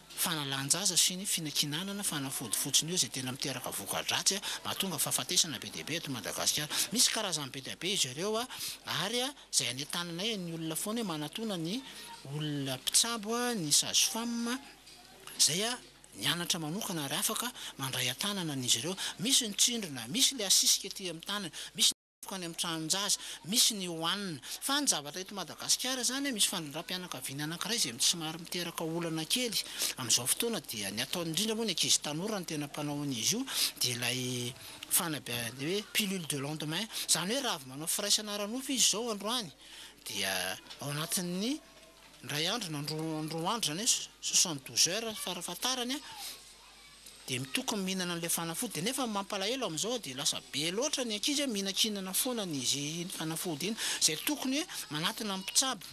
Speaker 26: Fanalan-jaza sy ny finakinanana fanafody fotsiny eo izay tena miteraka voka-dratsy mahatonga fahafatesana be dia be eto Madagasikara. Misy karazany be dia be izy ireo ary izay any an-taninay ny olona foana hoe manatona ny olona mpitsabo ny sage-femme izay nianatra manokana ary afaka mandray an-tanana an'izy ireo. Misy ny tsindrona, misy ilay asisika ety amin'ny tanana, misy ny. Tokony any amin'ny tranon-jaza misy ny hohanina. Fa ny zavatra eto Madagasikara izany, misy fanindram-pianakaviana anankiray izay somary miteraka olana kely amin'izao fotoana dia ny ataony indrindra moa ny ankizy tanora no tena mpanao an'izy io dia ilay fanabeazana hoe pilule de lendemain izany hoe raha avy manao firaisana ara-nofo izy izao androany dia ao anatin'ny iray andro na roa andro izany hoe soixante douze heures farafahatarany Dia mitokony mihinana an'ilay fanafody nefa ny mampalahelo amin'izao dia lasa be loatra ny ankizy hoe mihinankinana foana an'izy iny fanafody iny izay tokony hoe manatona ny mpitsabo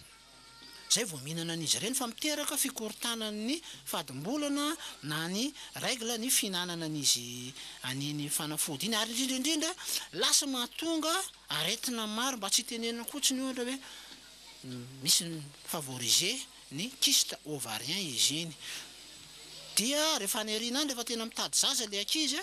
Speaker 26: izay vao mihinana an'izy ireny fa miteraka fikorontanan'ny fadim-bolana na ny règle ny fihinanana an'izy an'iny fanafody iny ary indrindra indrindra lasa mahatonga aretina maro mba tsy itenenina kotsiny ohatra hoe misy ny favoriser ny kyste ovarien izy iny dia rehefa any aoriana any rehefa tena mitady zaza ilay ankizy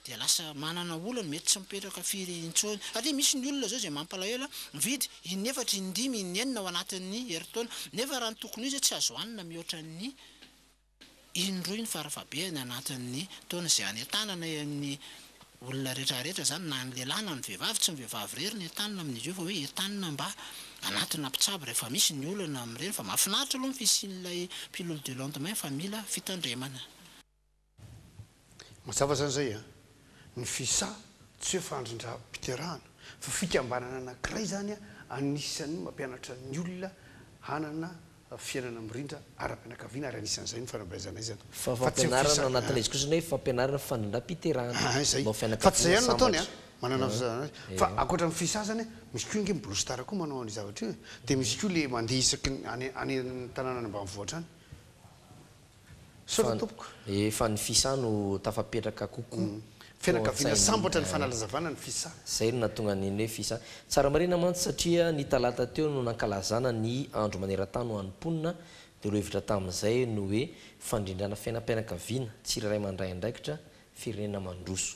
Speaker 26: dia lasa manana olana mety tsy mipetraka firy intsony satria misy ny olona izao izay mampalahelo mividy in'efatra indimy inenina ao anatin'ny herintaona nefa raha ny tokony ho izy tsy azo hanina mihoatra ny Indroy ny farafahabehany anatin'ny taona izay hanentanana eny amin'ny olona rehetrarehetra izany na ny lehilahy na ny vehivavy, tsy ny vehivavy irery no entanina amin'izy io fa hoe entanina mba hanatona mpitsabo rehefa misy ny olana amin'ireny fa mahafinaritra aloha ny fisian'ilay pilule du lendemain fa mila fitandremana.
Speaker 1: Mazava zany zay a! Ny FISA tsy hoe fandrindram-piterahana fa fikambanana anankiray zany anisan'ny mampianatra ny olona hanana fiainana mirindra ara-pianakaviana ary anisan'izay ny fanabeazana
Speaker 5: izy zany fa tsy ny FISA a! Zay! Fa tsy zay
Speaker 1: ihany no ataony a! Manana visa zany izy fa ankoatra ny FISA zany a misy koa ange ny Blue Star koa manao an'io zavatra io e! Dia misy koa le mandeha isaky ny any any tanàna any ambanivohitra any. Misaotra tompoko. Efa ny Fisa
Speaker 5: no tafapetraka kokoa. Fianakaviana
Speaker 1: sambatra ny fanalazavana ny Fisa. Zay no nahatonga ny
Speaker 5: hoe Fisa. Tsara marina mantsy satria ny talata teo no nankalazana ny andro manerantany ho an'ny mponina dia lohevitra tamin'izay no hoe fandrindrana fiainam-pianakaviana, tsirairay mandray andraikitra, firenena mandroso.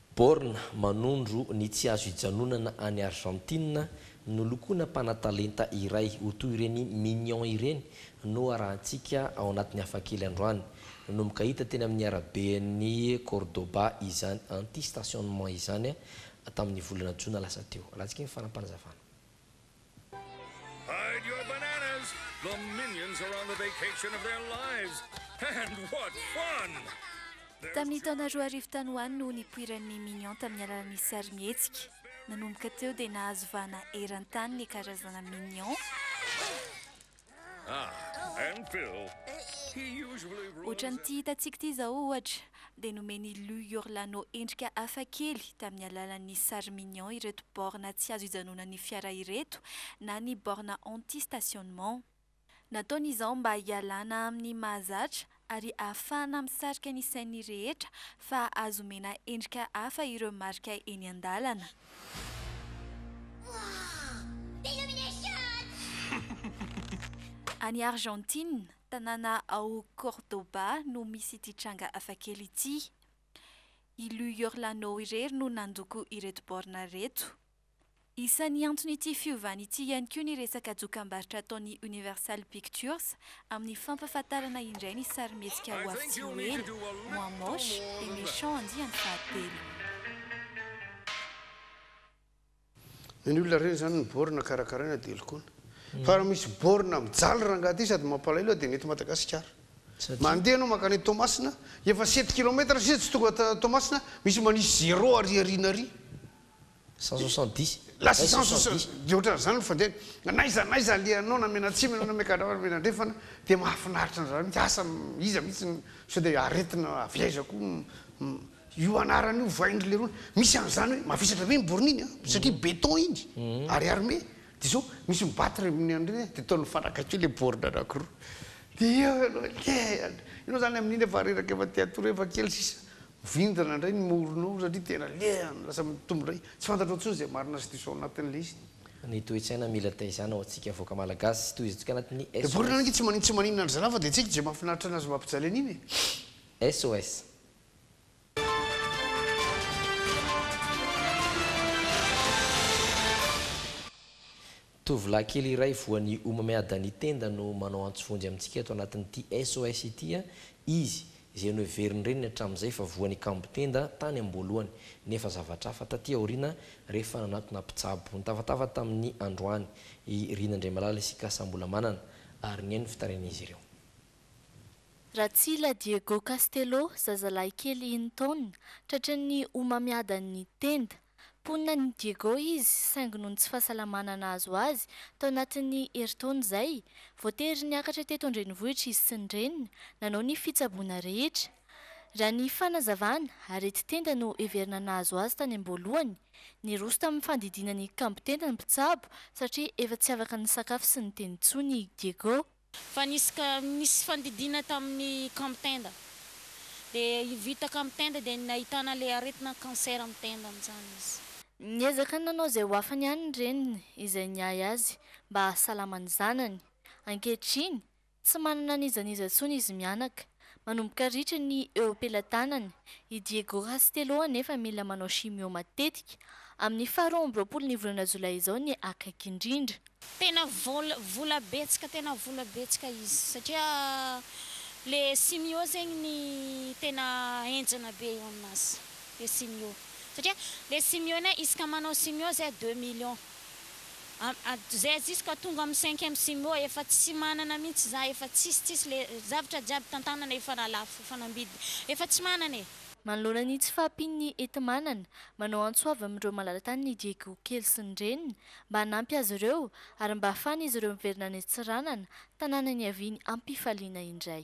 Speaker 5: Born manondro ny tsy azo ijanonana any Argentine, nolokoina mpanatalenta iray ho toy ireny Minions ireny no arahantsika ao anatin'ny Hafakely androany. Nanomboka hita teny amin'ny araben'i Cordoba izany anti-stationnement izany tamin'ny volana jona lasa teo. Alatsika ny faram-panazavana.
Speaker 11: Hide your bananas! The minions are on the vacation of their lives! And what fun! Tamin'ny
Speaker 3: taona roa arivo tany ho any no nipoiran'ny Minions tamin'ny alalan'ny sarimihetsika. Nanomboka teo dia nahazo vahana eran-tany ny karazana Minions.
Speaker 11: Ohatran'ity hitantsika ity izao,
Speaker 3: ohatra, dia nomen'i Lou Iorlano endrika hafa kely tamin'ny alalan'ny sary mignon ireto borne tsy azo ijanonan'ny fiara ireto na ny borne anti-stationnement. Nataony izao mba hialana amin'ny mahazatra ary ahafahana misarika ny sain'ny rehetra fa azo omena endrika hafa ireo marika eny an-dalana. Any Argentine, tanàna ao Córdoba no misy ity tranga hafakely ity. I Lu Yorlano irery no nandoko ireto baorina ireto. Isan'ny anton'ity fiovana ity ihany koa ny resaka dokam-barotra ataon'ny Universal Pictures amin'ny fampahafantarana indray ny sarimihetsika ho avy tsy ho ela, Moi Moche et Méchant andiany fahatelo.
Speaker 1: Na ny olona reny izany ny borne karakaraina dia lokoina. Fa raha misy borne mijaly rangaha ity sady mampalahelo dia ny eto Madagasikara. Mandeha ianao mankany Toamasina, efa sept kilomètre sisa tsy tonga Toamasina, misy manisy zéro ary aoriana ary. Cent soixante
Speaker 5: dix. La six cent
Speaker 1: soixante dix dia ohatran'ny izany no fandehany. N'aiza n'aiza alehanao na mianantsimo ianao na miankadrama na mianandrefana dia mahafinaritra an'izany mihitsy. Asa iza mihitsy no sao dia aretina avy aiza koa io anarana io ovain-dry lerony. Misy an'izany hoe mavesatra be iny borne iny an, satria beton iny ary armé dia sao misy mi-battre amin'ny an'ireny an, dia ataony mifanakaiky eo ilay borne anankiroa dia eo ianao hoe kee, ianao izany amin'iny efa reraka efa te-hatory eo efa kely sisa. Vindana indray ny moronao satria tena lehany, lasa mitombo indray. Tsy fantatrao intsony izay marina sy diso ao anatin'ilay izy. Ny toe-tsaina
Speaker 5: mila taizana ao antsika vahoaka malagasy, tohizantsika anatin'ny SOS. Deborah ange tsy manin
Speaker 1: tsy maninona ry zalahy fa dia tsy haiko izay mahafinaritra anazy mampijaly an'iny e. SOS.
Speaker 5: Tovolahy kely iray voan'ny homamiadan'ny tenda no manao antso vonjy amintsika eto anatin'ity SOS ity. Izy, izay noheverin'ny reniny hatramin'izay fa voan'ny kambon-tenda tany am-boalohany, nefa zavatra hafa taty aoriana rehefa nanatona mpitsabo. Nitavatava tamin'ny androany i Rina Andriamalala sy Kasa Ambolamanana, ary nihaino ny fitarainan'izy ireo. Ratsila
Speaker 3: Diego Castelo, zazalahy kely enin-taonina, tratran'ny homamiadan'ny tenda. Mponina any Diego izy, saingy noho ny tsy fahasalamana nahazo azy, tao anatin'ny herintaona izay, voatery niakatra teto an-drenivohitra izy sy ny reniny, nanao ny fitsaboana rehetra. Raha ny fanazavana, areti-tenda no heverina nahazo azy tany am-boalohany. Niroso tamin'ny fandidiana ny kambo-tenda ny mpitsabo, satria efa tsy afaka nisakafo sy niteny intsony i Diego. Fa nisy ka
Speaker 2: nisy fandidiana tamin'ny camp tenda dia vita camp tenda dia nahitana ilay aretina cancer amin'ny tenda amin'izany izy. Niezaka nanao
Speaker 3: izay ho afany ihany ny reniny izay niahy azy mba hahasalama ny zanany. Ankehitriny, tsy manana an'iza n'iza intsony izy mianaka. Manomboka ritra ny eo am-pelatanany. I Diego Castelo anefa mila manao chimio matetika. Amin'ny faha roa amby roapolo ny volana jolay izao ny akaiky indrindra. Tena vola
Speaker 2: vola betsaka tena vola betsaka izy satria le chimio zegny ny tena henjana be eo aminazy le chimio satria le chimio ne izy ka manao chimio zay deux millions. Zay jusqu'à tonga amin'ny cinquième simo efa tsy manana mihitsy za efa tsisy tsisy le zavatra jiaby tantanana efa nalafo efa nambidy efa tsy manana e. Manoloana ny tsy
Speaker 3: fahampian'ny enti-manana, manao antso avo amin'ireo malala-tany ny Diego kely sy ny reniny mba hanampy azy ireo ary mba hahafahan'izy ireo miverina any Antsiranana, tanàna niaviany am-pifaliana indray.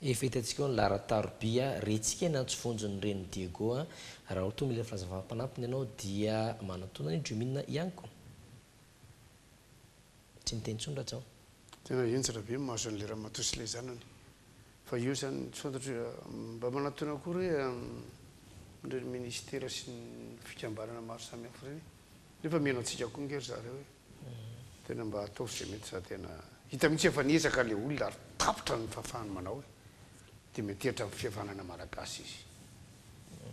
Speaker 5: Hevety antsika ao ny Lara Taroby a, rentsika ny antso vonjin'ny renin'i Diego a, raha ohatra hoe mila fahazavam-panampiny ianao dia manatona an'i Jumina ihany ko. Tsy miteny intsony ratsy aho. Tena henjana
Speaker 1: be ny maso an'ilay ramatoa sy ilay zanany fa eo izany tsy fantatro hoe mba manatona akory hoe an'ireny minisitera sy ny fikambanana maro samihafa ireny e. Nefa mino antsika koa nge ry zareo e! Tena mba ataovy ze mety za tena hita mihitsy efa niezaka le olona ary tapitra ny fahafahany manao e! Dia mety hihetra amin'ny fihavanana malagasy izy.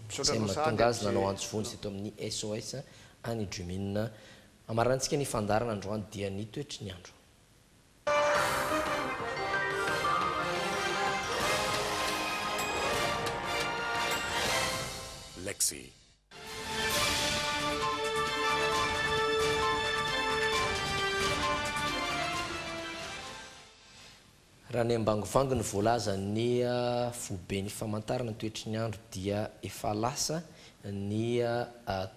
Speaker 1: Misaotra anao sahady Izay no mahatonga
Speaker 5: azy nanao antso vonjy teto amin'ny SOS any Jumin. Hamaranintsika ny fandaharana androany dia ny toetry ny andro.
Speaker 11: Lexy.
Speaker 5: Raha ny ambangovango ny voalazan'ny foiben'ny famantarana ny toetry ny andro dia efa lasa ny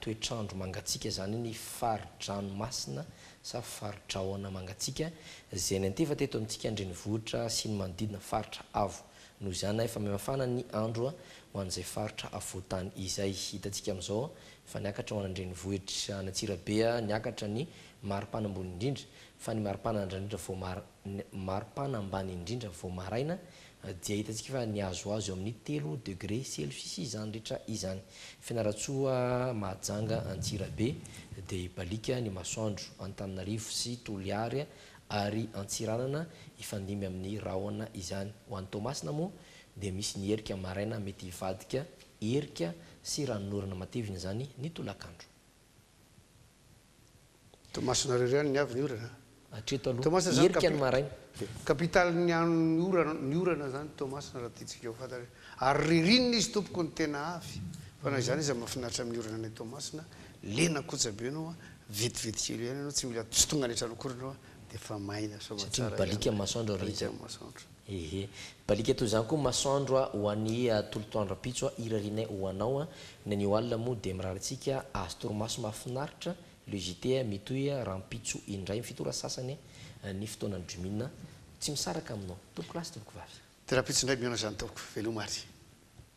Speaker 5: toetr'andro mangatsiaka izany ny fari-dranomasina sa fari-drahona mangatsiaka izay niantefa teto amintsika an-drenivohitra sy ny manodidina faritra avo Noho izany, na efa mihamafana ny andro ho an'izay faritra afovoan-tany izay, hitantsika amin'izao fa niakatra ho any an-drenivohitra, any Antsirabe, niakatra ny maripana ambony indrindra, fa ny maripana andranindra vao mar, ny maripana ambany indrindra vao maraina dia hitantsika fa nihazohazo eo amin'ny telo degré celcius izany rehetra izany. Fianarantsoa, Mahajanga, Antsirabe, dia hibaliaka ny masoandro, Antananarivo sy Toliary ary Antsiranana hifandimby amin'ny rahona izany. Ho an'i Toamasina moa dia misy ny erika maraina mety hivadika erika sy ranonorana matevina izany ny tolakandro.
Speaker 1: Toamasina irery ihany ny avy ny orana? Hatreto aloha,
Speaker 5: erika ny maraina. Capitale ny
Speaker 1: an'ny ny orana izany Toamasina raha tiantsika ho fantatra. Ary ririnina izy tompoko ny tena avy. Fa na izany aza mahafinaritra amin'ny orana any Toamasina Lena koja be anao a, vetivety kely ihany ianao, tsy mila mpisontonga rehetra anao akory ianao a, dia efa maina soa aman-tsara ihany. Satria mibaliaka ny
Speaker 5: masoandro ry Rija. Mibaliaka ny masoandro. Ehe. Mibaliaka toy izany koa ny masoandro a, ho an'i a, tolotra andro-ampitso a, irarianay ho anao a, ny anio alina moa dia mirary antsika azo torimaso mahafinaritra, le JT a, mitohy a, rahampitso indray amin'ny fito ora sasany a, ny fotoanan'ny Jumin a. Tsy misaraka aminao. Tompokolahy sy tompokovavy. Dia rahampitso indray mihaona izany
Speaker 1: tompoko. Veloma ary.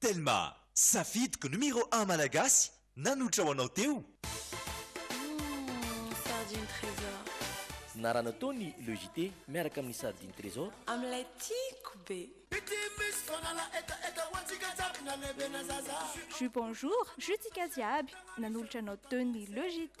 Speaker 19: Telma, safidiko numéro un malagasy nanoitra ho anao teo. Humm
Speaker 21: sardine tresor. Narana
Speaker 5: tao ny Le JT miaraka amin'ny sardine tresor. Amin'ilay tiako
Speaker 21: be.
Speaker 3: Ju bonjour jutsika jiaby nanolotra anao teo ny le JT.